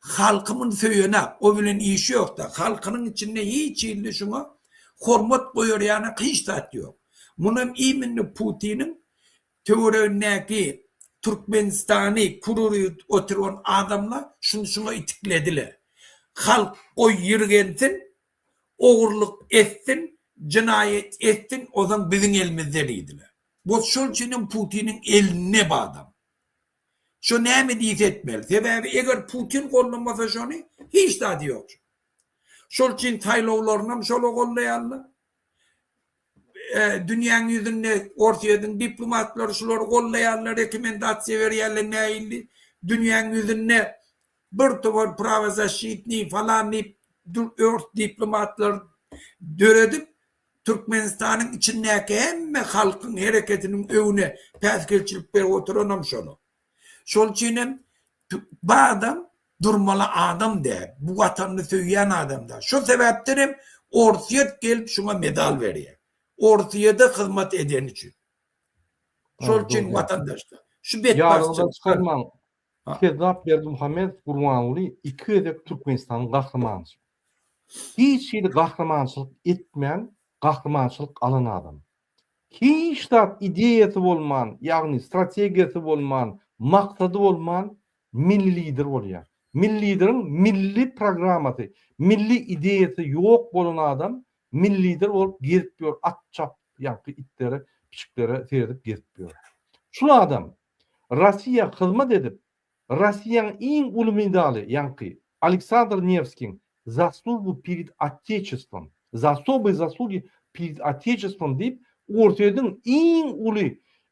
Halkymyn söýenä o bilen işi ýokda halkynyň içinde hiç hilli şuňa hormat goýar ýanak hiç zat ýok munam iminni putiniň töweregindäki türkmenistany kururyt oturyban adamlar şuny şuňa itiklediler halk goý ýirgensin ogurlyk etsin jynaýat etsin ozan biziň elimizde diýdiler bot şol üçinem putiniň elinde badam. Şo näme diýse etmeli. Sebäbi eger Putin gollamasa şony, hiç zady ýok. Şol üçin saýlawlarynam şola gollaýarlar. Dünýäň ýüzünde Orsýetiň diplomatlary şulary gollaýarlar, rekomendasiýa berýärler nähilli. Dünýäň ýüzünde bir topar prawozasşitniý falan diýip ors diplomatlary döredip, Türkmenistanyň içindäki hemme halkyň hereketiniň öňüne päsgelçilik berip oturanam şonuň. Şol üçin hem bu adam durmaly adam däl, bu Watanyny söýýän adam däl. Şo sebäpden hem Orsýet gelip şuňa medal berýär. Orsýede hyzmat edeni üçin. Şol üçin watandaşlar, şu betbagtçylykdan. Ýalyňyza çykarmaň, Kezzap Berdimuhamedow Gurbanguly iki gezek Türkmenistanyň gahrymany. Hiç hili gahrymançylyk etmän gahrymançylyk alan adam. Hiç zat ideýasy bolman, ýagny strategiýasy bolman, maksady bolman milli lider bolýar. Milli lideriň milli programmasy, milli ideýasy ýok bolan adam milli lider bolup gezip ýör, at çapýanky itlere, pişiklere seredip gezip ýör. Şul adam Rossiýa hyzmat edip, Rossiýanyň iň uly medaly, ýaňky Aleksandr Newskiň Zaslugu pered Otecestvom, Za osoboýe zaslugi pered Otecestvom diýip, Orsýetiň iň uly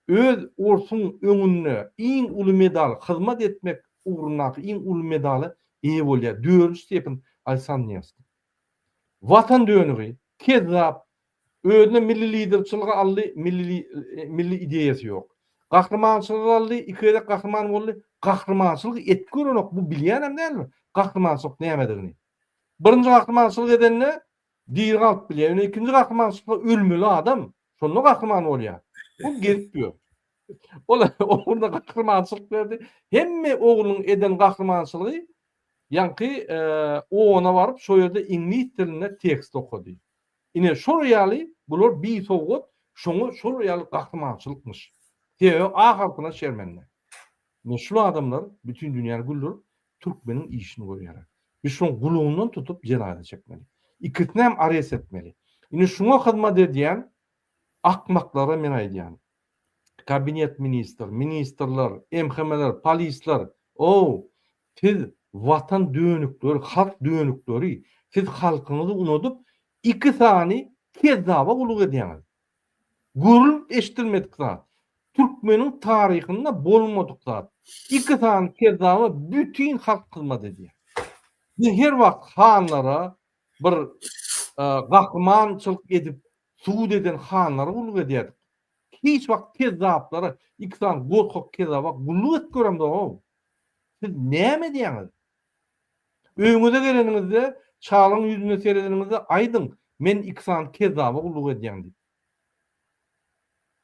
öz orsuň öňünde iň uly medal, hyzmat etmek ugrundaky iň uly medala eýe bolýar, dördünji stepen Aleksandr Newskiň. Watan dönügi, kezzap, Özüne milli lider çylgy aldy, milli ideýasy ýok. Gahryman çylgy aldy, iki gezek gahryman boldy, gahrymançylyk edip görenok, bu bilýänem däldir, gahrymançylyk nämedigini. Birinji gahrymançylyk edende diri galyp bilýär, ýöne ikinji gahrymançylykda ölmeli adam, şonda gahryman bolýar. Bu gezip ýör. Ol ogluna gahrymançylyk berdi. Hemme oglunyň eden gahrymançylygy ýaňky OON-a baryp, şo ýerde iňlis dilinde tekst okady. Ine, şol ýaly bular bi sowgat, şoňa şol ýaly gahrymançylykmyş. Sebäbi A halkyna şermende. Ine, şul adamlar bütin dünýäni güldürip, türkmeniň işini görýärler. Biz şoň gulundan tutup jenaýa çekmeli. Ikisinem arest etmeli. Ine, şuňa hyzmat edýän akmaklara men aýdýan, Kabinet ministr, ministrler, MHM-ler, polisler, ow, siz watan dönükleri, halk dönükleri, siz halkyňyzy unudyp, iki sany kezzaba gulluk edýäňiz. Görülip eşidilmedik zat. Türkmeniň taryhynda bolmadyk zat. Iki sany kezzaba bütin halk hyzmat edýär. Biz her wagt hanlara, Bir gahrymançylyk edip subut eden hanlara gulluk edýärdik. Hiç wagt kezzaplara, iki sany gorkak kezzaba gulluk edip göremzog-ow. Siz näme edýäňiz? Öýüňize geleniňizde, çalyň ýüzüne seredeniňizde aýdyň, men iki sany kezzaba gulluk edýän diýip.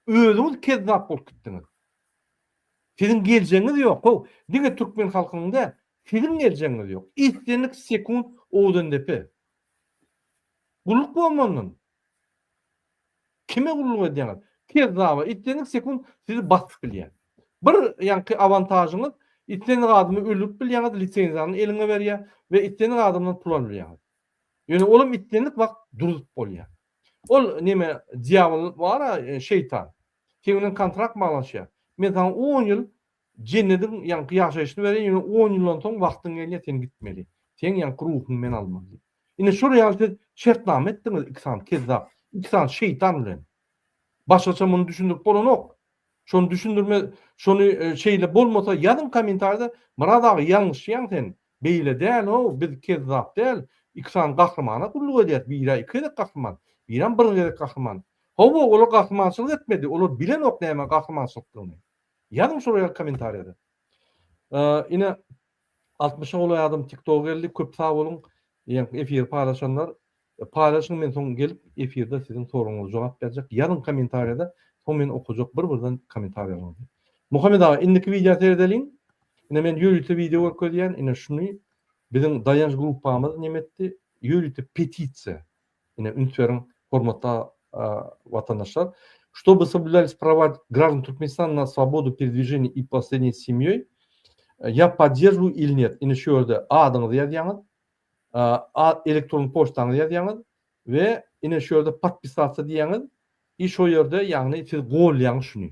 Özüňiz kezzap bolup gitdiňiz. Siziň geljegiňiz ýok how, diňe türkmen halkynyň däl, siziň geljegiňiz ýok. Islendik sekunt Owdendepe. Gulluk bolmandan. Kime gulluk edýäňiz? Kezzaba, islendik sekunt sizi basyp bilýär. Bir ýaňky awantažyňyz, islendik adamy öldürip bilýäňiz, lisenziýany eliňe berýär we islendik adamdan pul alyp bilýäňiz. Ýöne olam islendik wagt duruzyp bolýar. Ol neme dýabyl bar-a şeýtan. Seň bilen kontrakt baglaşýar. Men saňa on ýyl jennediň ýaňky ýaşaýşyny berýän, ýöne on ýyldan soň wagtyň gelýär sen gitmeli. Seň ýaňky ruhuňy men almaly diýip. Ine şol ýaly siz şertnama etdiňiz iki sany kezzap, iki sany şeýtan bilen. Başgaça muny düşündirip bolanok. Şony düşündirme şony şeýle bolmasa ýazyň kommentarýada Myrat aga ýalňyşýaň sen. Beýle dänow biz kezzap däl iki sany gahrymana gulluk edýäs birä iki gezek gahryman birem bir gezek gahryman howwa olar gahrymançylyk etmedi olar bilenok näme gahrymançylykdygyny ýazyň şol ýaly komentariýada ine altmyşa golaý adam tiktoga geldi köp sag boluň efiri paýlaşanlar Paýlaşyň men soň gelip efirde siziň soragyňyza jogap berjek ýazyň komentarýada soň men okajak bir birden komentarýalaryňyzy. Muhammet aga indiki wideo seredeliň ine men ýörite wideo görkezýän ine şuny biziň Daýanç gruppamyz neme etdi ýörite petisiýa ine üns beriň hormatly watandaşlar ştoby soblýulyis prawa graždan Türkmenistana na svobodu peredwiženiýa i posredniýa s semýoý ýa poddjeržu il net ine şu ýerde adyňyzy ýazýaňyz elektron poçtaňyzy ýazýaňyz we ine şu ýerde podpisatsa diýýäňiz i şo ýerde ýagny siz golýaňyz şuny.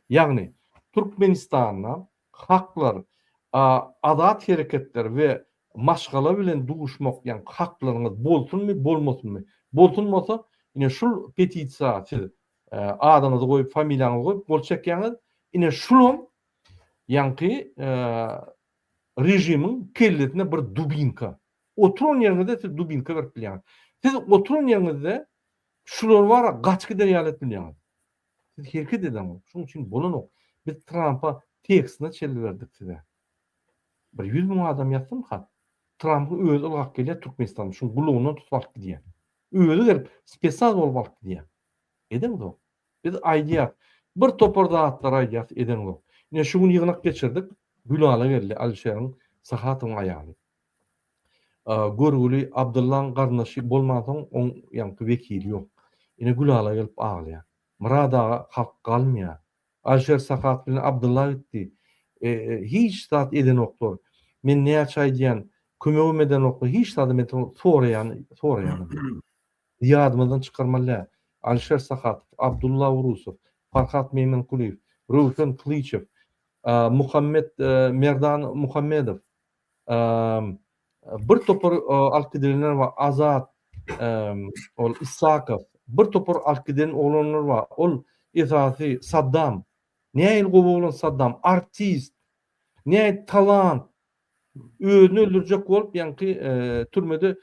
Ýagny Türkmenistanda haklar azat hereketler we maşgala bilen duşmak ýagny haklaryňyz bolsunmy bolmasynmy bolsun bolsa ine şul petisiýa siz adyňyzy goýup familiýaňyzy goýup gol çekýaňyz ine şulam ýaňky Režimiň kellesine bir dubinka. Oturan ýeriňizde siz dubinka berip bilýäňiz. Siz oturan ýeriňizde şular bar-a gaç gider ýaly edip bilýäňiz. Siz hereket edeňiz. Şonuň üçin bolanok. Biz Trampa tekstine çelli berdik size. Bir ýüz müň adam ýazsyn hat. Trampyň özi ylgap gelýär Türkmenistana. Şuň gulagyndan tutup alyp gidýär. Özi gelip spesnaz bolup alyp gidýär. Edeňiz ony. Biz aýdýas. Bir topar zatlar aýdýas, edeňok. Ine, şu gün ýygnak geçirdik. Gülala geldi, Alişeriň, Sahatowyň aýaly. Görgüli Abdyllaň garyndaşy bolmansoň, oň ýaňky wekili ýok. Ine, Gülala gelip aglaýar. Myrat aga, halk galmaýar. Alişer Sahat bilen Abdylla gitdi. Hiç zat edenoklar. Men näçe aýdýan, kömegem edenoklar. Hiç zadam edenok. Soraýan, soraýanam ýok. Biz ýadymyzdan çykarmalydr, Alişer Sahatow, Abdulla Urusow, Farhat Meýmenkulyýew, Röwşen Kylyçow, Muhammet Merdan Muhammedow, bir topar alyp gidilenler bar, Azat ol Issakow, bir topar alyp giden oglanlar bar, ol esasy Saddam, nähili gowy oglan Saddam, artist, nähili talant, Özüni öldürjek bolup, ýaňky türmede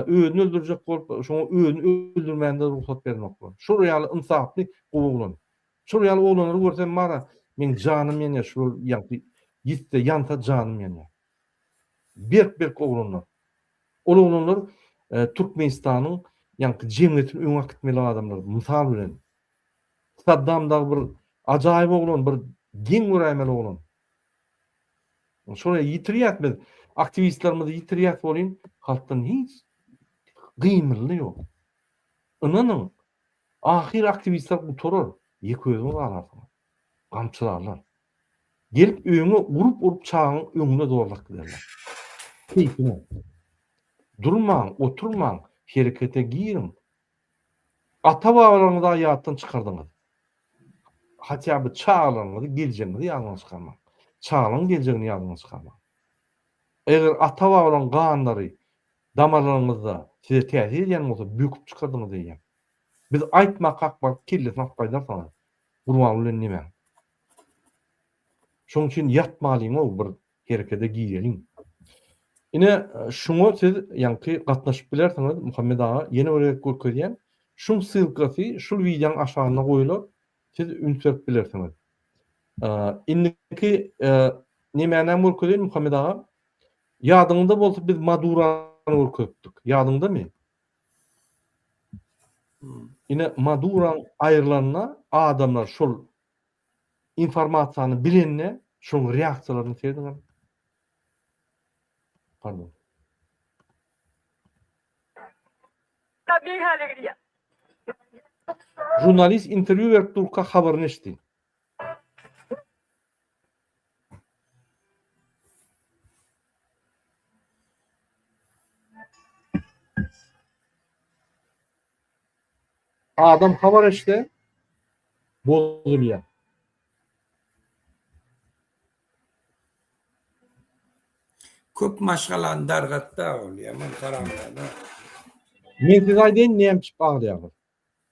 özüni öldürjek bolup, şoňa özüni öldürmände rugsat bermek bolar. Şol ýaly ynsaply gowy oglan. Şol ýaly oglanlary görsem bara, meň janym ýanýar şular ýaňky ýitse ýansa janym ýanýar. Berk-berk oglanlar. Ol oglanlar Türkmenistanyň ýaňky jemgyýetini öňe akitmeli adamlar mysal bilen. Saddam dagy bir ajaýyp oglan, bir geň göräýmeli oglan. Şoňa ýitirýäs biz, aktiwistlerimizi ýitirýäs welin, halkdan hiç gymyldy ýok. Ynanyň, ahyr aktiwistler gutarar, ýeke özüňiz galarsyňyz. Gamçylarlar. Gelip öýüňe urup-urup çagaň öňüne zorlap giderler. Keýpiňe. Durmaň, oturmaň, herekete giriň, Ata-babalaryňyzy haýatdan çykardyňyz. Hatda bir çagalaryňyzy, geljegiňizi ýadyňyzdan çykarmaň. Çagalaryň geljegini ýadyňyzdan çykarmaň. Eger ata-babalaryň ganlary damarlaryňyzda size täsir edýän bolsa, böküp çykardyňyz diýýän. Biz aýtmakak baryp kellesini atyp gaýdarsyňyz. Gurbanguly bilen nimäň? Şonuň üçin ýatmalyňow bir Herekede gireliň. Ine, şuňa siz ýaňky gatnaşyp bilersiňiz, Muhammet aga, ýene bir gezek görkezýän. Şuň ssylkasy şul wideoň aşagynda goýlar, siz üns berip bilersiňiz. Indiki nemänäm görkezeýin, Muhammet aga? Ýadyňyzda bolsa biz Madurany görkezipdik, ýadyňdamy? Ine, Maduraň aýrylanyna adamlar şol Informasiýany bilende şoň reaksiýalaryny serediňiz. Pardon. Tabii hale gidýär. Žurnalist intervýu berip durka habaryny eşitdi. Adam habar eşde bozulýar. Köp maşgalany dargatda ol ýaman haramzada. Men size aýdaýyn näme üçin aglaýarlar.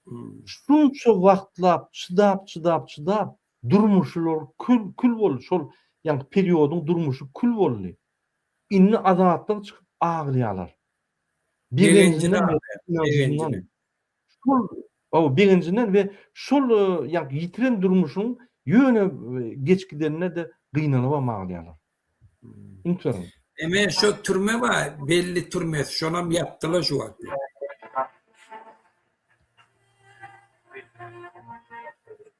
Hmm. Şunça wagtlap çydap çydap çydap durmuşlar kül kül boldy. Şol ýaňky periodyň durmuşy kül boldy. Indi azatlyk çykyp aglaýarlar. Begenjinden we begenjinden we şol ýaňky ýitiren durmuşyň ýöne geç gidenine-de gynanybam aglaýarlar. Ünsüňiz. Eme şo türme bar, belli türmesi, şonam ýapdylar şu wagt.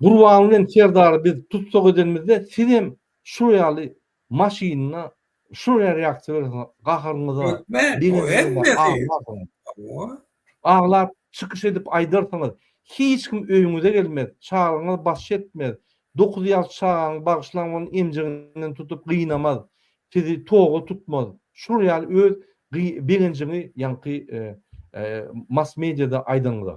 Gurban bilen Serdary biz tussag edenimizde sizem şul ýaly maşynda şul ýere ýakyberesiňiz gaharyňyza. Hökmän o hemmesi. Aglap çykyş edip aýdarsyňyz hiç kim öýüňize gelmez çagaňyz baş çetmez dokuz ýaş çagaňy bagyşlaň ony emjiginden tutup gynamaz sizi toga tutmaz şul ýaly öz begenjiňi ýaňky mass mediada aýdanyňyza.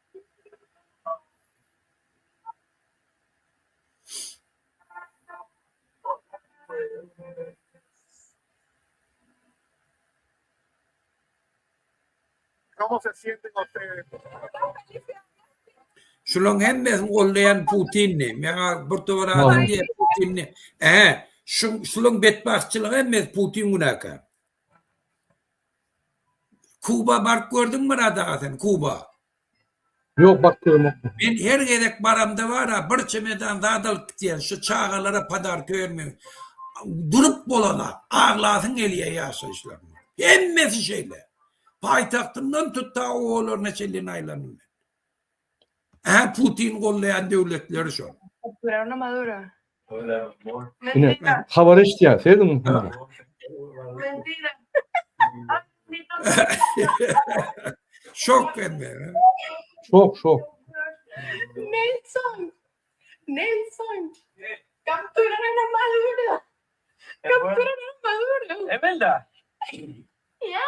Şularyň hemmesini goldaýan Putindi. Meňa bir tobar adam diýýär Putindi. He, şu şularyň betbagtçylygy hemmesi Putin günäkär. Kuba baryp gördüňmi Myrat aga sen Kuba? Ýok baryp göremok. Men her gezek baramda bara bir çemedan zat alyp gitýän şu çagalara padarka bermegi. Durup bolana aglasyň gelýär ýaşaýyşlaryna. Hemmesi şeýle. Paýtagtyndan tut ta obalaryna çenli aýlandym. Hä Putin gollaýan döwletleri şol. Ine habar eşitýär seziň. Şok hemme. Şok şok. Nelson. Nelson. Kaptura na madura. Kaptura na madura. Emelda. Ya.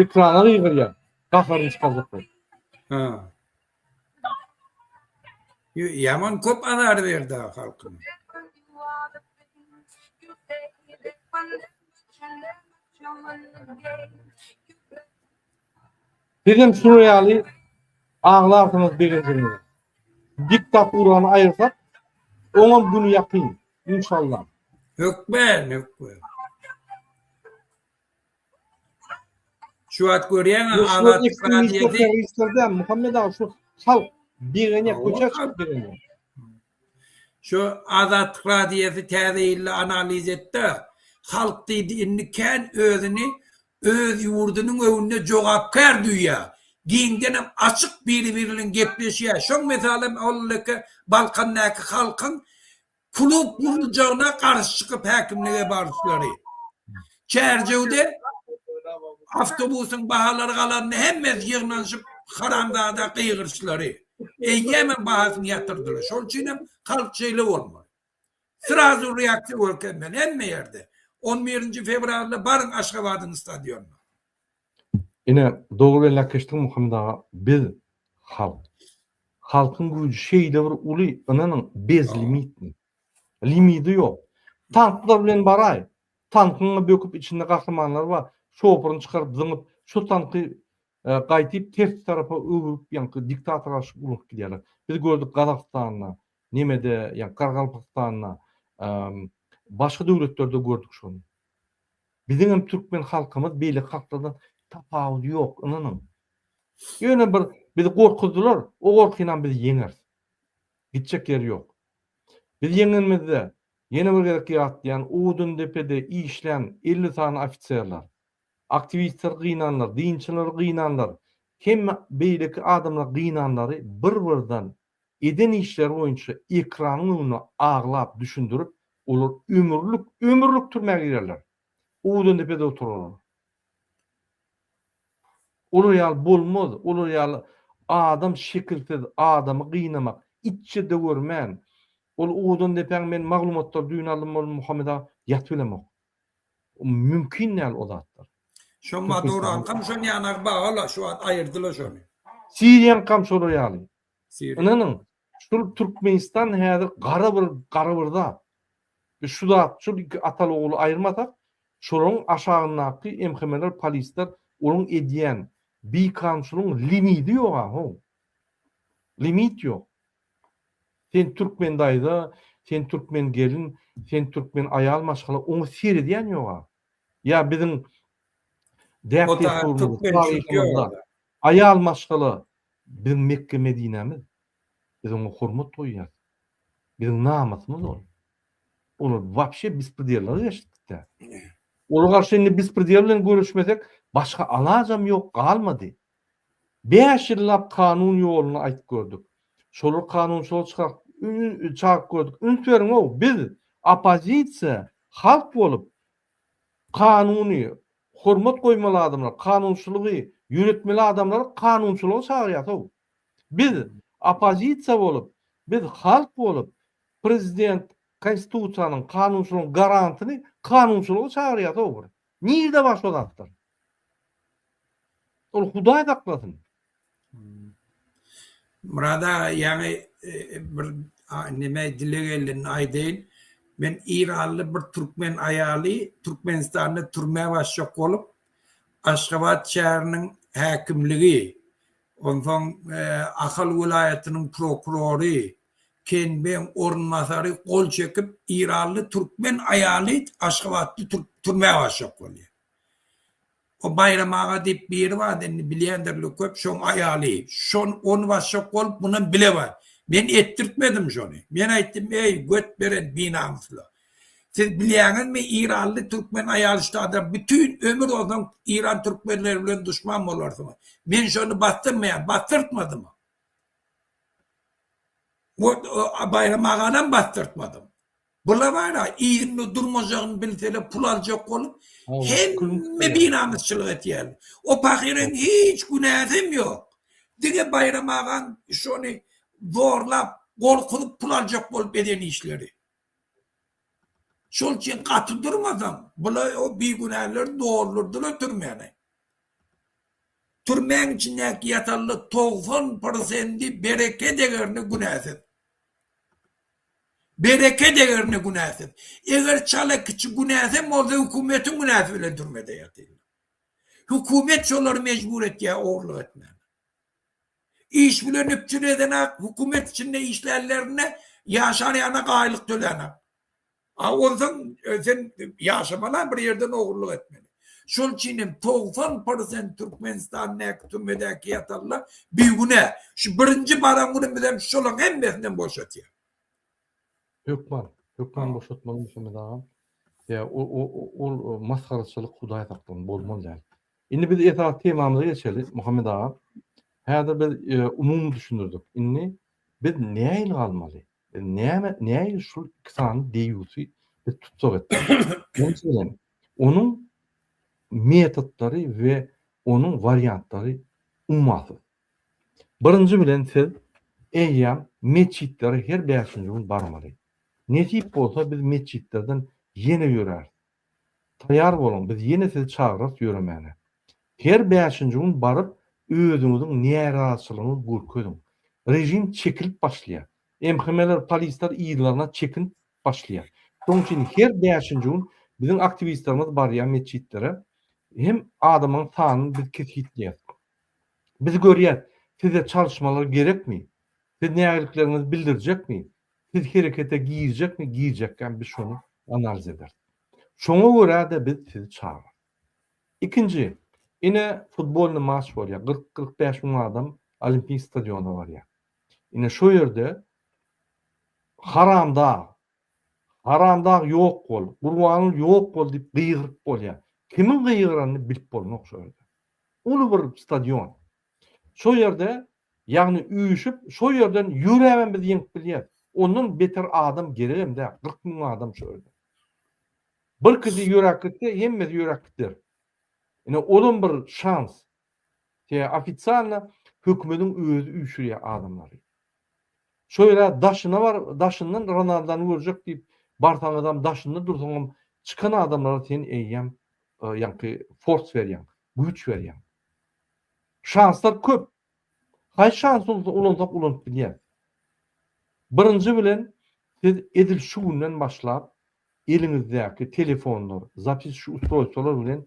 Ekrana gygyrýar. Gaharyny çykarjak bolup. Ha. Ýö- Ýaman köp azar berdi ha halkyna. Sizem şu ýaly aglarsyňyz begenjinize. Diktaturany aýyrsak, oňam güni ýakyn. Inşallah. Hökman, hökman. Şu wagt görýäňmi Azatlyk radioda işlerde Muhammed aga şu şal birine köçe çykyp birine. Şu Azatlyk radioda täze ýylda analiz etdi. Halk diýdi indi kän özüni öz ýurdunyň öňünde jogapkär duýýar, giňdenem açyk biri-birbilen gepleşýär, şoň mysalem ol leke Balkandaky halkyň klub guruljagyna garşy çykyp häkimlige baryşlary, Çärjewde awtobusyň bahalary galanda hemmesi ýygnanyşyp haramzada gygyryşlary, eýýämem bahasyny ýatyrdylar, şol üçinem halk şeýle bolmaly. Srazu reaksiýa görkezmeli hemme ýerde. On birinji fewralda baryň Aşgabadyň stadionyna. Ine dogry belläp geçdiň Muhammet aga biz halk. Halkyň güýji şeýle bir uly ynanyň bezlimitni. Limidi ýok. Tanklar bilen baraý. Tankyňy böküp içinde gahrymanlar bar. Şofuryny çykaryp zyňyp şo tanky gaýtyp tersi tarapa öwrüp ýaňky diktatora aşyp ulugyp gidýärler. Biz gördük Gazagystanda Nemede ýa Gargalpakstanda başga döwletlerde gördük şony. Biziňem türkmen halkymyz beýleki halklardan tapawudy ýok ynanyň. Ýöne bir bizi gorkuzdylar, o gorkynam biz ýeňeris. Gitjek ýeri ýok. Biz ýeňenimizde ýene bir gezek ýatlaýan Odundepede işlän elli sany ofiserler, aktiwistleri gynanlar, dynçylary gynanlar, hemme beýleki adamlary gynanlary bir birden Eden işleri boýunça ekranyň öňünde aglap düşündirip, olar ömürlik, ömürlik türmä girerler. Owdandepede oturarlar. Olar ýaly bolmaz, olar ýaly adam şekilsiz adamy gynamak, itje döwürmen. Ol Owdandepäň men maglumatlary düýn aldym ol Muhammet aga ýaty bilemok. Mümkin däl o zatlar. Şo Maduroňkam şon ýanagy baga-la, şu wagt aýyrdy-la şony. Siriýaňkam şolar ýaly. Ynanyň, şul Türkmenistan häzir gara bir gara bir zat. Biz şu zat, şul iki ataly-ogly aýyrmasak, şolaryň aşagyndaky MHM-ler, polisler, olaryň edýän bikanunçylygyň limidi ýog-a, how. Limit ýok. Sen türkmen daýza, sen türkmen gelin, sen türkmen aýal maşgala oňa seredýän ýoga. Ýa biziň däp-dessurymyz, taryhymyzda aýal maşgala biziň Mekge-Medinämiz. Biz oňa hormat goýýas. Biziň namysymyz ol. Olar wapşe bispridellere geçdik biz-ä. Ola garşy indi bispridel bilen göreşmesek, başga alajam ýok, galmady. Bäş ýyllap kanun ýoluny aýyp gördük. Şolar kanunçylygy çykak çagyp gördük. Üns beriňow, biz oppozisiýa halk bolup kanuny hormat goýmaly adamlar, kanunçylygy ýöretmeli adamlary kanunçylyga çagyrýasow. Biz oppozisiýa bolup, biz halk bolup prezident konstitusiýanyň, kanunçylygyň garantyny kanunçylyga çagyrýasow bir. Nirede bar şo zatlar? Ol Hudaý saklasyn. Myrat aga ýaňy bir neme dile geldenini aýdaýyn. Men Eýranly bir türkmen aýaly Türkmenistanda türmä basjak bolup Aşgabat şäheriniň häkimligi onsoň Ahal welaýatynyň prokurory Kenbeň orunbasary gol çekip, eýranly türkmen aýaly aşgabatly türkturmä başlak bolýar. O Baýram aga diýip biri bar, indi bilýändirler köp, şoň aýaly. Şon ony başlak bolup, mundan bile bar. Men etdirtmedim şony. Men aýtdym, eý, göt beren binamyslar. Siz bilýäňizmi, eýranly türkmen aýaly ştada bütin ömür ozan eýran türkmenleri bilen duşman bolarsyňyz. Men şony basdyrmaýan, basdyrtmadym. Baýram aganam basdyrtmadym. Bula bar-a, ýerinde durmajagyny bilseler, pul aljak bolup, hemme binamysçylyk etýärler. O pahyryň hiç günäsem ýok. Diňe Baýram agaň şony zorlap, gorkuzyp pul aljak bolup eden işleri. Şol üçin gaty durmasaň, bulaý o bigünäleri doldurdylar türmäni. Türmäň içindäki ýatanla togsan prosendi bereke degerine günäsiz. Bereke degerine günäsiz. Eger çala kiçi günäsi hem bolsa hökümetiň günäsi bilen türmede ýatyrlar. Hökümet şolary mejbur etýär ogurlyk etmäge. Iş bilen üpjün edenak, hökümet içinde işlänlerine ýaşan ýana gaýylyk tölänak. A onsoň sen ýaşamala bir ýerden ogurlyk etmeli. Şol üçin hem togsan prosent Türkmenistandäki türmedäki ýatanla bigünä. Şu birinji baran günümiz hem şolaň hemmesinden boşatýar. Hökman, hökman boşatmaly Muhammet agam. Ýa ol masgaraçylyk Hudaý saklasyn bolmaly däl. Indi biz esasy temamyza geçeli, Muhammet aga. Häzir biz umumy düşündirdik. Indi biz nähili galmaly? Biz näme, nähili şu iki sany deýusy biz tussag etmeli? Onuň metodlary we onuň wariantlary ummasyz. Birinji bilen siz eýýäm metjitlere her bäşinji gün barmaly. Nesip bolsa biz metjitlerden ýene ýöräris. Taýar boluň, biz ýene sizi çagyrarys ýöremäne. Her bäşinji gün baryp, özüňiziň närazyçylygyňyzy görkeziň. Režim çekilip başlaýar. MHM-ler, polisler yzlaryna çekinip başlaýar. Şonuň üçin her bäşinji gün biziň aktiwistlerimiz barýar metjitlere. Hem adamlaryň sanyny biz kesgitleýäris. Biz görýäris, size çalyşmalar gerekmi? Siz nägiliklerinizi bildirjekmi? Siz herekete girjekmi? Girjekäm biz şony analiz ederis. Şoňa görä-de biz sizi çagyrarys. Ikinji, ine futbolny maç bolýar. 40-45 müň adam Olimpik stadiona barýar. Ine şo ýerde haramdag, haramdag ýok bol, gurbanul ýok bol diýip gygyryp bolýar. Kimiň gygyranyny bilip bolmok şo ýerde. Uly bir stadion. Şo ýerde, ýagny üýşüp, şo ýerden ýöräbem biz ýeňip bilýäris. Ondan beter adam geregem däl, kyrk müň adam şo ýerde. Birkisi ýöräp gitse, hemmesi ýöräp gider. Ine, olam bir şans. Tä ofisialna hökümetiň özi üýşürýär adamlary. Şo ýere daşyna bar, daşyndan Ronaldany görjek diýip barsaňyzam, daşynda dursaňam, çykan adamlara sen eýýäm ýaňky fors berýäň, güýç berýäň. Şanslar köp. Haýsy şansymyzy ulansak ulanyp bilýäris. Birinji bilen, siz edil şu günden başlap eliňizdäki telefonlar, zapiski ustroýstwolar bilen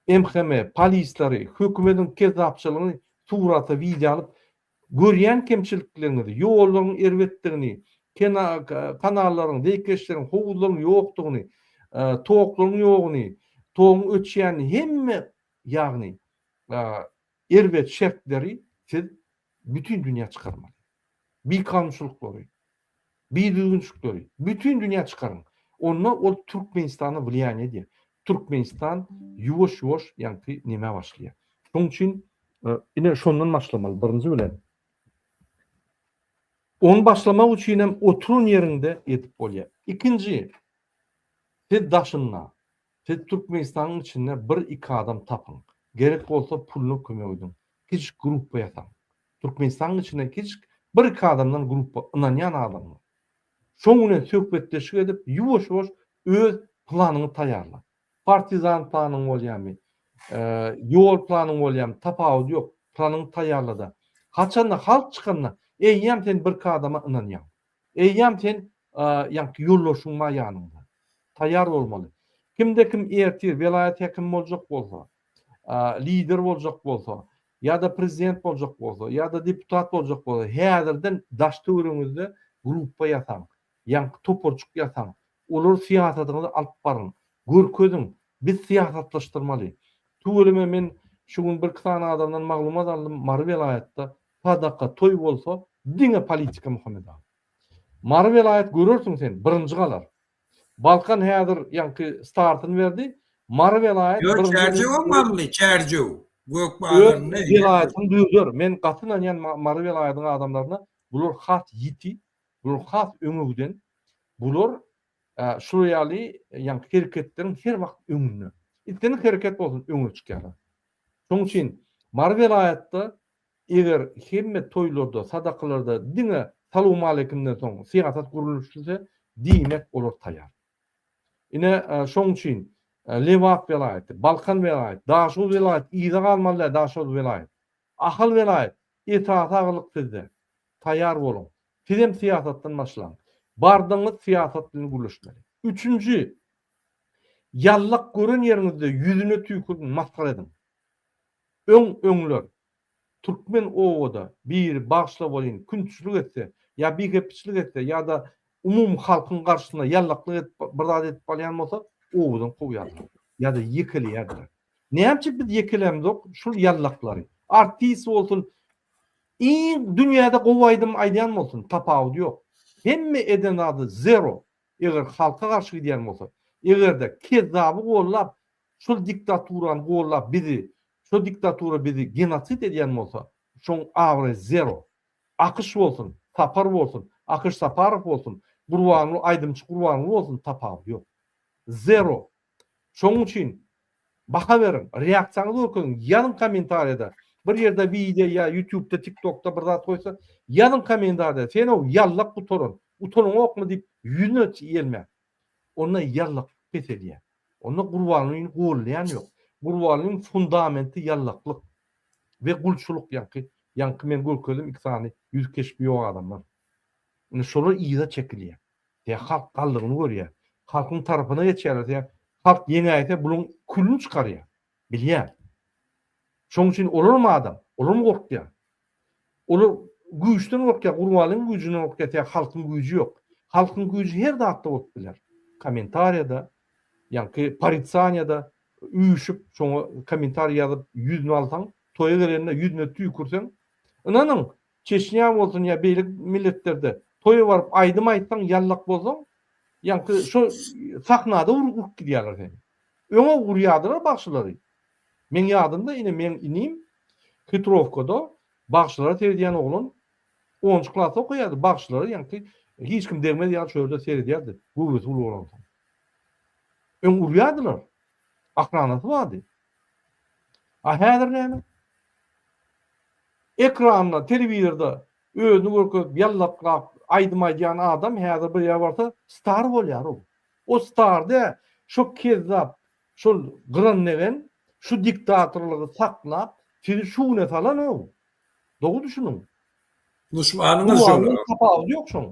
MHM, polisleri, hökümetiň kezzapçylygyny surata, wideo alyp, Görýän kemçiliklerňizi, ýollaryň erbetdigini, kanallaryň, zeýkeşleriň, howuzlaryň ýokdugyny, toklaryň ýoguny, togyň öçýänini hemme ýagny erbet şertleri siz bütin dünýä çykarmaly. Bikanunçylyklary, Bir düzgünçilikleri bütin dünýä çykaryň. Onda ol Türkmenistana wlýaniýe edýär. Türkmenistan ýuwaş-ýuwaş ýaňky nämä başlaýar. Şoň üçin ine şondan başlamaly birinji bilen. Ony başlamak üçin hem oturan ýeriňde edip bolýar. Ikinji siz daşynda Siz Türkmenistanyň içinde bir-iki adam tapyň. Gerek bolsa puluna kömek ediň. Kiçijik gruppa ýasaň. Türkmenistanyň içinde kiçijik bir-iki adamdan gruppa, ynanýan adamdan. Şoň bilen söhbetdeşlik edip, ýuwaş-ýuwaş öz planyňy taýýarla. Partizan planyň bolýarmy, ýol planyň bolýarmy, tapawudy ýok, planyňy taýýarla-da, haçanda halk çykanda eýýäm sen birki adama ynanýaň. Eýýäm sen ýaňky ýoldaşyň bar ýanyňda. Taýýar bolmaly. Kimde-kim ertir welaýat häkimi boljak bolsa, lider boljak bolsa, ýa-da prezident boljak bolsa, ýa-da deputat boljak bolsa, häzirden daş-töweregiňizde gruppa ýasaň, ýaňky toparjyk ýasaň, olary syýasatyňyzy alyp baryň, görkeziň, biz syýasatlaşdyrmaly. Tüweleme men şu gün birki sany adamdan maglumat aldym, Mary welaýatda Sadaka toý bolsa diňe politika Muhammet aga. Mary welaýat görersiň sen birinji galar. Balkan häzir ýaňky startyny berdi. Mary welaýat Ýok Çärjewem Mary Çärjew gök bazaryny. Öz welaýatyny düzer. Men gaty ynanýan Mary welaýatyň adamlaryna bular has ýiti, bular has öňe giden. Bular şular ýaly ýaňky hereketleriň her wagt öňünde. Islendik hereket bolsun öňe çykýarlar. Şonuň üçin Mary welaýatda Eger hemme toýlarda, sadakalarda diňe salowmaleýkimden soň syýasat gurluşse, diýmek olar taýar. Ine, şoň üçin Lebap welaýaty, Balkan welaýaty, Daşoguz welaýaty yza galmaly däl, Daşoguz welaýaty, Ahal welaýaty esasy agylyk sizde. Taýar boluň. Sizem syýasatdan başlaň. Bardygyňyz syýasat bilen gürleşmeli. Üçünji, ýallak gören ýeriňizde ýüzüne tüýküriň, masgara ediň. Öň-öňler, türkmen obada biri bagşylar welin künçilik etse, ýa bihepiçlik etse ýa-da umumy halkyň garşysyna ýallaklyk edip bir zat edip barýan bolsa, obadan kowýardylar ýa-da ýekeleýärdiler. Näme üçin biz ýekelämzok şul ýallaklary? Artist bolsun, iň dünýäde gowy aýdym aýdýan bolsun, tapawudy ýok. Hemme eden zady zero, eger halka garşy gidýän bolsa, eger-de kezzaby gollap, şol diktaturany gollap bizi şo diktatura bizi genosid edýän bolsa şoň abraýy zero. Akyş bolsun, Sapar bolsun, Akyş Saparow bolsun, Gurbanguly aýdymçy Gurbanguly bolsun tapawudy ýok. Zero. Şoň üçin baha beriň, reaksiýaňyzy görkeziň, ýazyň kommentariýada, bir ýerde wideo ýa ýutubda, tiktokda bir zat goýsa, ýazyň kommentariýada, sen-ow ýallak gutaran, utanyňokmy diýip ýüzüne ýelmäň. Onda ýallakyk peselýär. Onda Gurbangulyny goldaýan ýok. Gurbangulynyň fundamenti ýallaklyk we gulçulyk ýaňky ýaňky men görkezdim iki sany ýüzi keşbi ýok adamlar. Indi şolar yza çekilýär. Sebäbi halk galdygyny görýär. Halkyň tarapyna geçýärler sebäbi halk ýeňäýse bularyň külüni çykarýar. Bilýän. Şoň üçin olaram adam, olaram gorkýar. Olar güýçden gorkýar, Gurbanlyň güýjünden gorkýar, sebäbi halkyň güýji ýok. Halkyň güýji her zatda bolup biler. Kommentariýada, ýaňky poricaniýada üýşüp, şoňa kommentariý ýazyp, ýüzüni alsaň, toýa gelende ýüzüne tüýkürseň, ynanyň, Çeçnýa bolsun ýa beýlek milletlerde toýa baryp aýdym aýtsaň ýallak bolsaň ýaňky şo sahnada urup gidýärler seni. Öňe urýardylar bagşylary. Meň ýadymda ine meň inim Hytrowkada bagşylara seredýän oglan onunjy klasda okaýardy bagşylara ýaňky hiç kim degmez ýaly şu ýerde seredýärdi göwresi uly bolansoň. Öň urýardylar. Akranasy bardy. A häzir näme? Ekranda, telewizorda özüni görkezip ýallaklap aýdym aýdýan adam häzir bir ýere barsa star bolýar ol. Ol star däl, şo kezzap, şol gyranlegen şu diktatorlygy saklap sizi şu güne salan ol. Dogry düşüniň. Duşmanyňyz şol. Tapawudy ýok şoň.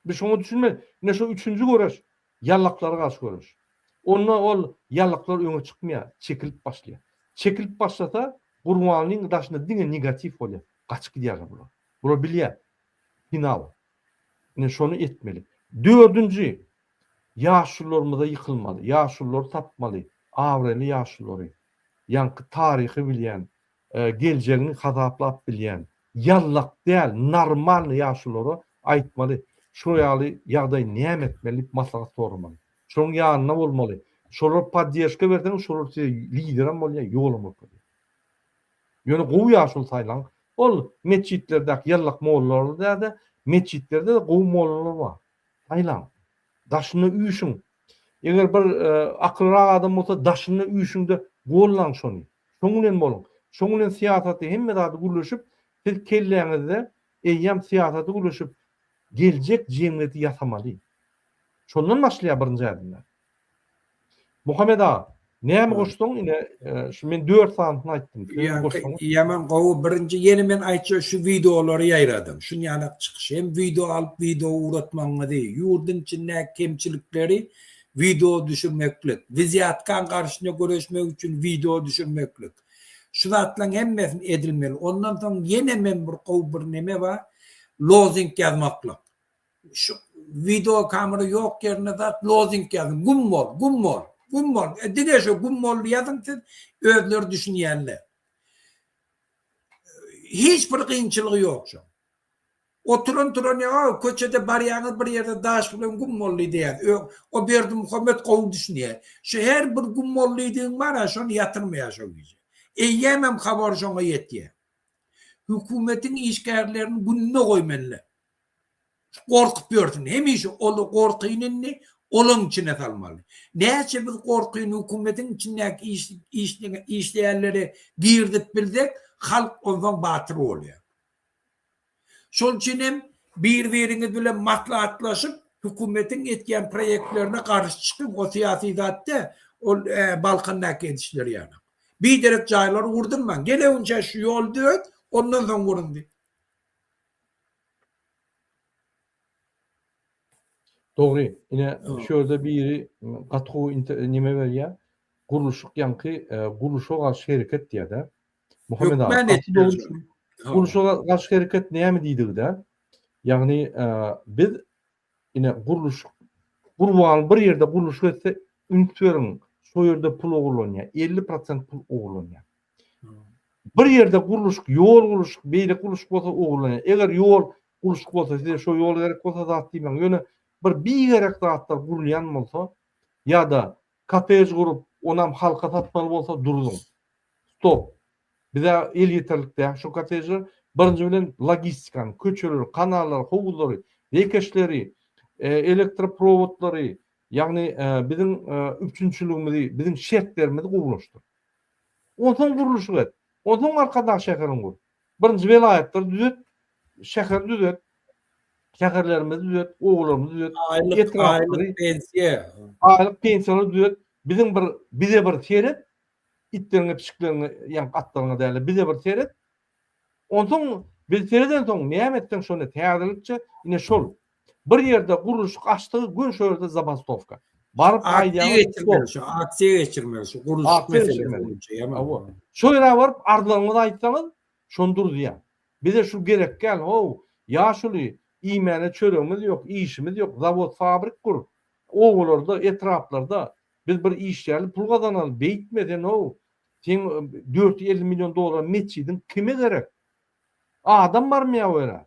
Biz şoňa düşünmeli. Ine şo üçünji göreş. Ýallaklara garşy göreş. Onda ol ýallaklar öňe çykmaýar, çekilip başlaýar. Çekilip başlasa, Gurbanlyň daşynda diňe negatiw bolýar. Gaçyp gidýärler bular. Bular bilýär. Final. Ine şony etmeli. Dördünji, ýaşulularymyza ýykylmaly. Ýaşululary tapmaly. Abraýly ýaşululary. Ýaňky taryhy bilýän, geljegini hasaplap bilýän ýallak däl normalny ýaşulara aýtmaly şo ýaly ýagdaý näme etmeli diýip maslahat soramaly şoň ýanynda bolmaly şolar poddežka berseňiz şolar size liderem bolýa ýolam görkezýä ýöne gowy ýaşuly saýlaň ol metjitlerdäki ýallak mollalar däde metjitlerde gowy mollalar bar saýlaň daşynda üýşiň Eger bir akyllyrak adam bolsa daşynda üýşüňde gollaň şony. Şoň bilen boluň. Şoň bilen syýasaty hemme zady gürleşip siz kelläňizde eýýam syýasaty gürleşip geljek jemgyýeti ýasamaly. Şondan başlaýar birinji ädimler. Muhammet aga Näme goşsaň ine şu men 4 sanysyny aýtdym. Ýaman gowy birinji ýene men aýtjak şu wideolary ýaýradyň. Şun ýanak çykyş hem wideo alyp wideo ugratmagyňyzy, ýurdyň içindäki kemçilikleri wideo düşürmeklik, wizýatkan garşyna göreşmek üçin wideo düşürmeklik. Şu zatlaň hemmesini edilmeli. Ondan soň ýene men bir gowy bir neme bar lozing ýazmaklyk. Şu wideo kamera ýok ýerine zat lozing ýazyň güm bol güm bol güm bol e dige şu güm bol ýazyň siz özleri düşünýänler hiç bir kynçylygy ýok şu oturan turan ýa köçede barýaňyz bir ýerde daş bilen güm bol diýýär ö o berdi muhammet gowy düşünýär şu her bir güm bol diýdigiň bar a şony ýatyrmaýar şo gije eýýämem habar şoňa ýetýär hökümetiň işgärlerini gününe goýmalylar Gorkup ýörsün. Hemişe ol gorkyny indi olaň içine salmaly. Näçe biz gorkyny hökümetiň içindäki işleýänlere girizip bilsek, halk onsoň batyr bolýar. Şol üçin hem bir-biriňiz bilen maslahatlaşyp, hökümetiň etýän proýektlerine garşy çykyň. O syýasy zat däl. Ol Balkandaky edişleri ýaly. Biderek jaýlary gurdurmaň. Gelegünçä şu ýoly döret, ondan soň gurun diý. Dogry, ine şu ýerde biri gaty gowy inte neme berýär, gurluşyk ýaňky gurluşa garşy hereket diýýär-dä. Muhammet aga, Hökmän gaty dogry etmelidir. çün gurluşa garşy hereket näme diýdigi-dä, ýagny biz Ine gurluşyk gurban bir ýerde gurluşyk etse üns beriň şo ýerde pul ogurlanýa elli prosent pul ogurlanýa bir ýerde gurluşyk ýol gurluşyk beýle gurluşyk bolsa ogurlanýa eger ýol gurluşyk bolsa size şo ýol gerek bolsa zat diýmäň ýöne bir bigerek zatlar gurulýan bolsa ýa-da kotej gurup onam halka satmaly bolsa duruzyň stop Bize elýeterlik däl şu kottejler. Birinji bilen logistikany, köçeleri, kanallary, howuzlary, beýkeşleri, elektroprowodlary, ýagny biziň üpjünçiligimizi, biziň şertlerimizi gowulaşdyr. Onsoň gurluşyk et. Onsoň arkadag şäherini gur. Birinji welaýatlary düzet, şäheri düzet, şäherlerimizi düzet, obalarymyzy düzet, etraplary, aýlyk pensiýa, aýlyk pensiýalary düzet. Biziň bir bize bir seret, Itleriňe pişikleriňe ýaňk atlaryňa dälä bize bir seret. Onsoň biz seredensoň näme etseň şony täzelikçe ine şol bir ýerde gurluşyk açdygy gün şo ýerde zabastowka. Baryp aýdýaňyz şo aksiýa geçirmeli şu gurluşyk meselesi boýunça ýa-da şo ýere baryp arzlaryňyzy aýtsaňyz şony duruzýar. Bize şu gerekgäl how ýaşuly iýmäne çöregimiz ýok işimiz ýok zawod fabrik gur obalarda etraplarda Biz bir işlärli pul gazanaly beýtme senow seň dört ýüz elli million dollar metjidiň kime gerek adam barmy ýa oýra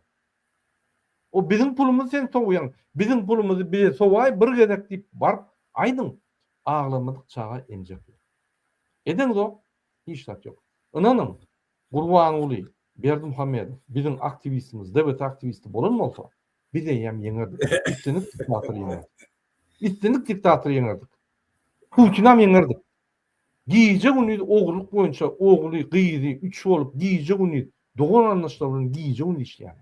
o biziň pulumyzy sen sowýaň biziň pulumyzy bize sowaý bir gezek diýip baryp aýdyň aglamadyk çaga emjek ýok edeňzok hiç zat ýok ynanyň Gurbanguly Berdimuhamedow biziň aktiwistimiz DBT aktiwisti bolan bolsa Biz eýýäm ýeňerdik. Üstünlik diktatory ýeňerdik. Üstünlik diktatory ýeňerdik. Putinam ýeňerdik. Gije günüz ogurlyk boýunça ogly, gyzy, üç bolup gije günüz dogan garyndaşlar bilen gije günüz işleýär.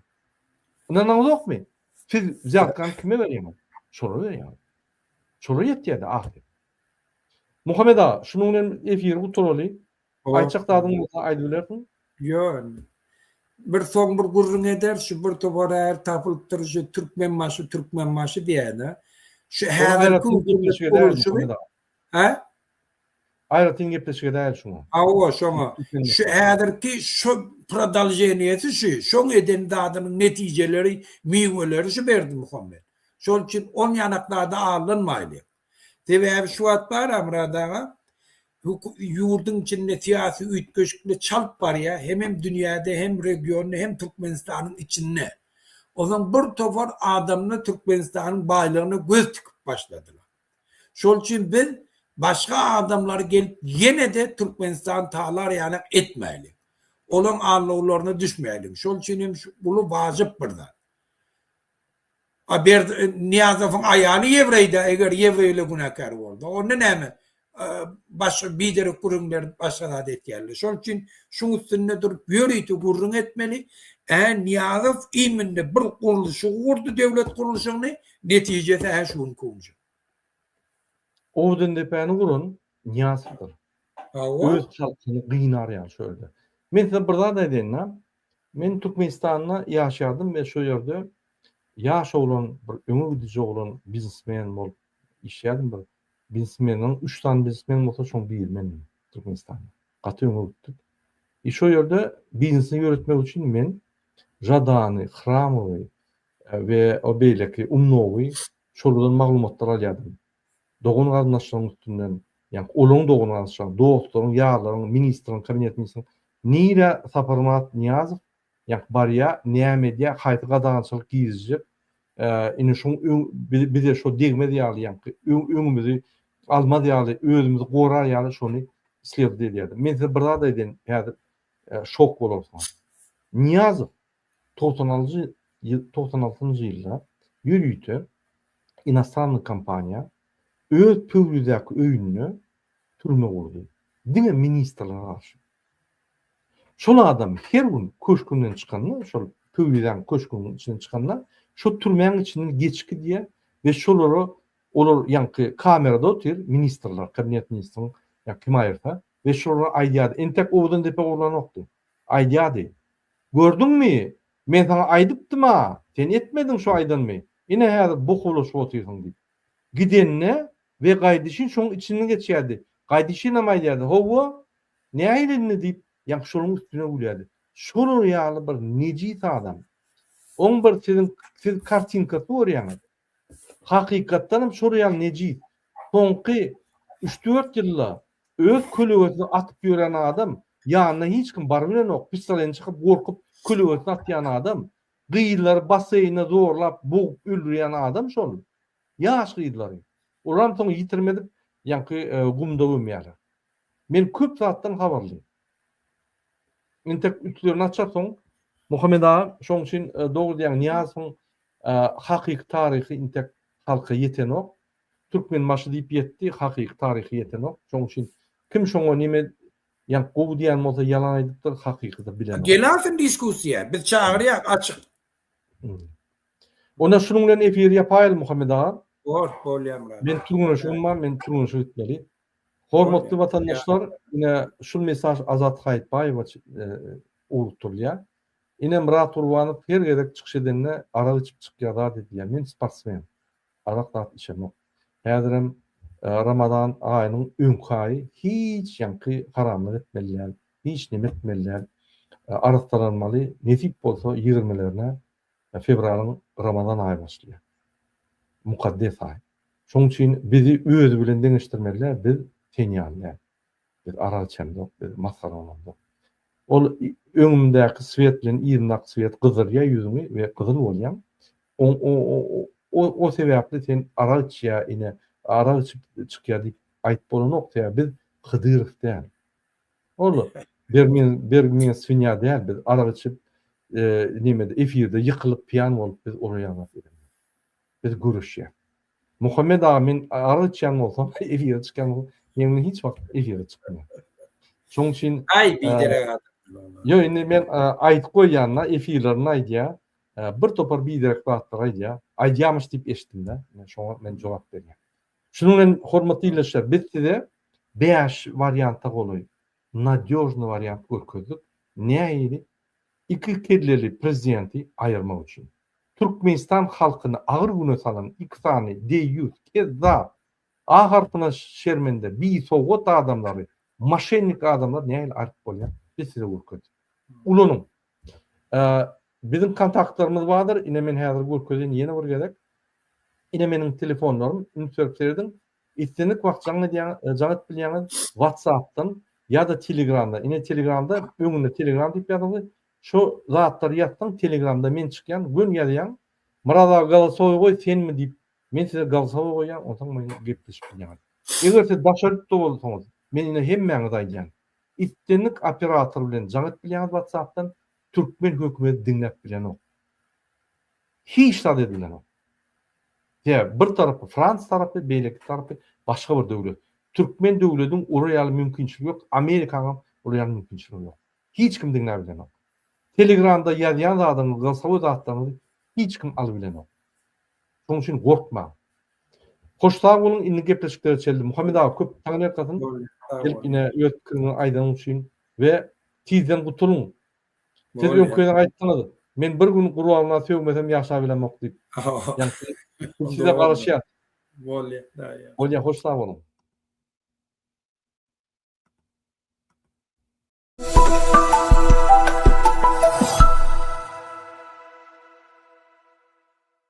Ynanaňyzokmy? Siz zähkan kime berýäňiz? Şolara berýäňiz. Şolara ýetýärdi ahyr. Muhammet aga, şunuň bilen efiri gutaraly. Aýtjak zadyň bolsa aýdyp bilersiň. Ýon. Bir soň bir gürrüň ederis, şu bir topar äri tapylypdyr, şu Türkmenbaşy, Türkmenbaşy diýäýne. Şu häzirki hökümet gurluşygy. Hä? Aýratyn gepleşik edäýeli şoňa. Hawa, şoňa. Şu häzirki şu prodolženiýesi şu, şoň eden zadynyň netijeleri, miweleri şu Berdimuhamet. Şol üçin on ýanak zada aldanmaýlyň. Sebäbi şu wagt bar Amyrat aga, ýurduň içinde syýasy üýtgeşiklik çalt barýar, hemem dünýäde, hem regionda, hem Türkmenistanyň içinde. Onsoň bir topar adamlar Türkmenistanyň baýlygyna göz tikip başladylar. Şol üçin biz başga adamlary gelip ýene-de Türkmenistany talar ýalak etmäýli. Olaň aldawlaryna düşmäýliň. Şol üçin hem şu uly wajyp bir zat. A Berdi Nyýazowyň aýaly ýewreýdä, eger ýewreýler günäkär bolsa, onda näme, başga biderek gürrüňler başga zat etýärler. Şol üçin şuň üstünde durup ýörite gürrüň etmeli. Ä Nyýazow iminde bir gurluşygy gurdy döwlet gurluşygyny, netijesi ä şu günki owunja. Ordendepäni guran Nyýazowdyr. Hawa. Öz halkyny gynarýar şo ýerde. Men size bir zat aýdaýyn-da, Men Türkmenistanda ýaşadym we şo ýerde ýaş oglan bir öňe gidiji oglan biznesmen bolup işledim bir biznesmeniň üç sany biznesmen bolsa şoň biri mendim Türkmenistanda gaty öňe gitdik i şo ýerde biznesini ýöretmek üçin men Žadany Hramowy we o beýleki Umnowy şolardan maglumatlar alýadym dogan-garyndaşlaryň üstünden, ýa-ni olaryň dogan-garyndaşlaryň, dostlaryň, ýarlaryň, ministriň, kabinet ministriň nirä Saparmyrat Nyýazow, ýa-ni barýar, näme edýär, haýsy gadagançylyk girizjek, ine şuň öň bize şo degmez ýaly, ýa-ni öňümizi almaz ýaly, özümizi gorar ýaly şony slewdit edýärdi. Men size bir zat aýdaýyn, häzir şok bolarsyňyz. Nyýazow Togsan aljy ýyl togsan altynjy ýylda ýörite inostannyý kompaniýa öz Pöwrizäki öýünde türme gurdy. Diňe ministrlere garşy. Şol adam her gün köşgünden çykanda, şol Pöwrizäň köşgüniň içinden çykanda, şo türmäň içinden geçip gidýär we şolara olar ýaňky kamerada otyr, ministrler, kabinet ministriň ýa kim aýyrsa, We şulara aýdýardy. Entek owdan depe urlanokdy. Aýdýardy. Gördüňmi? Men saňa aýdypdym-a! Sen etmediň şu aýdanymy. Ine häzir boh bulaşyp otyrsyň diýip. Gidenine we gaýdyşyn şoň içinden geçýärdi. Gaýdyşynam aýdýardy. Howwa! Nähili indi diýip, ýaňky şoluň üstüne gülýärdi. Şolar ýaly bir nejis adam. Oň bir siziň siz kartinkasy görýäňiz. Hakykatdan hem şol ýaly nejis. Soňky üç-dört ýylda öz kölegesini atyp ýören adam, ýanyna hiç kim baryp bilenok, pissaleni çykyp gorkup kölegesini atýan adam, gyzlary basseýne zorlap bogup öldürýän adam şol. Ýaş gyzlary. Olaram soň ýitirim edip ýaňky gumda gömýärler. Men köp zatdan habarly. Entek üstlerini açarsyň. Muhammet aga şoň üçin dogry diýýäň Nyýazowyň Hakyky taryhy intek halka ýetenok. Türkmenbaşy diýip ýetdi, hakyky taryhy ýetenok. Şoň üçin kim şoňa neme ýa gowy diýen bolsa ýalan aýdypdyr, hakykydyr bilenok. Gelasyn diskussiýa, biz çagyrýas açyk. Onda şunuň bilen efir ýapaýaly Muhammet aga. Hort bolýar Myrat. Men türgenleşigim bar, men türgenleşige gitmeli. Hormatly watandaşlar, ine şul mesaj Azat Haýytbaýewa ugrukdyrylýar. Ine Myrat Gurbanow her gezek çykyş edende arak içip çykýar zat edýär, men sportsmen, arak zat içemok. Häzirem Ramazan aýynyň öňki aýy hiç ýaňky haramlyk etmeli däl, hiç neme etmeli däl. Arassalanmaly, nesip bolsa ýigirmilerine fewralyň Ramazan aýy başlaýar. Mukaddes aý. Şoň üçin bizi özi bilen deňeşdirmeli däl, biz sen ýaly däl. Biz arak içemzok, biz masgara olamzok. Ol öňümdäki swet bilen yzyndaky swet gyzdyrýar ýüzüňi we gyzyl bolýaň. O sebäpli sen arak içýär, ine, arak içip çykýar diýip aýyp bolanok, sebäbi biz Hydyrow däl. Ol bergmen swinýa däl, biz arak içip, nämede, efirde ýykylyp, piýan bolup biz uraýanok. Biz göreşýäs. Muhammet aga men arz etýän bolsam efire çykýan bolsam men indi hiç wagt efire çykmaýan. Şoň üçin Aý biderek adam. Ýok indi men aýdyp goýýanda efirlerinde aýdýa bir topar biderek zatlar aýdýa. Aýdýamyş diýip eşitdimde men şoňa men jogap berýän. Şunuň bilen hormatly ildeşler biz size bäş warianta golaý nadýožny wariant görkezdik. Nähili Iki kelleli prezidenti aýyrmak üçin. Türkmenistan halkyny agyr güne salan iki sany deýýus, kezzap, A harpyna şermende, bisowgat adamlary, moşennik adamlary nähili aýryp bolýar? Biz size görkezdik. Ulanyň. Biziň kontaktlarymyz bardyr, ine men häzir görkezýän ýene bir gezek. Ine meniň telefonlarym, üns berip serediň. Islendik wagt jaň edýäňiz, jaň edip bilýäňiz WhatsApp-dan ýa-da Telegram-dan. Ine Telegram-da öňünde Telegram diýip ýazyňyz. Şo zatlary ýazsaň Telegram-da men çykýan, gön ýazýaň. Myrat aga galasowy goý senmi diýip men size galasowy goýýan onsoň men gepleşip bilýäňiz. Eger siz daş ýurtda bolsaňyz, men ine hemmäňize aýdýan. Islendik operator bilen jaň edip bilýäňiz WhatsApp-dan, Türkmen hökümeti diňläp bilenok. Hiç zat edilenok. Sebäbi bir tarapy Frans tarapy, beýleki tarapy başga bir döwlet. Türkmen döwlediň ora ýaly mümkinçiligi ýok, Amerikanyňam ol ýaly mümkinçiligi ýok. Hiç kim diňläp bilenok. Telegramda ýazýan zadyňyzy, gyrsawy zatlaryňyzy hiç kim aly bilenok. Şonuň üçin gorkmaň. Hoş sag boluň indi gepleşiklere çeldi. Muhammet aga köp taňyrýalkasyn. Gelip ine öz pikiriňi aýdanyň üçin. We tizden gutulyň. Siz öňküden aýtdyňyz, men bir gün gurbagyna sögmesem ýaşabilemok diýip. Ýagty biz size garaşýas. Bolýa daýy. Bolýa hoş sag boluň.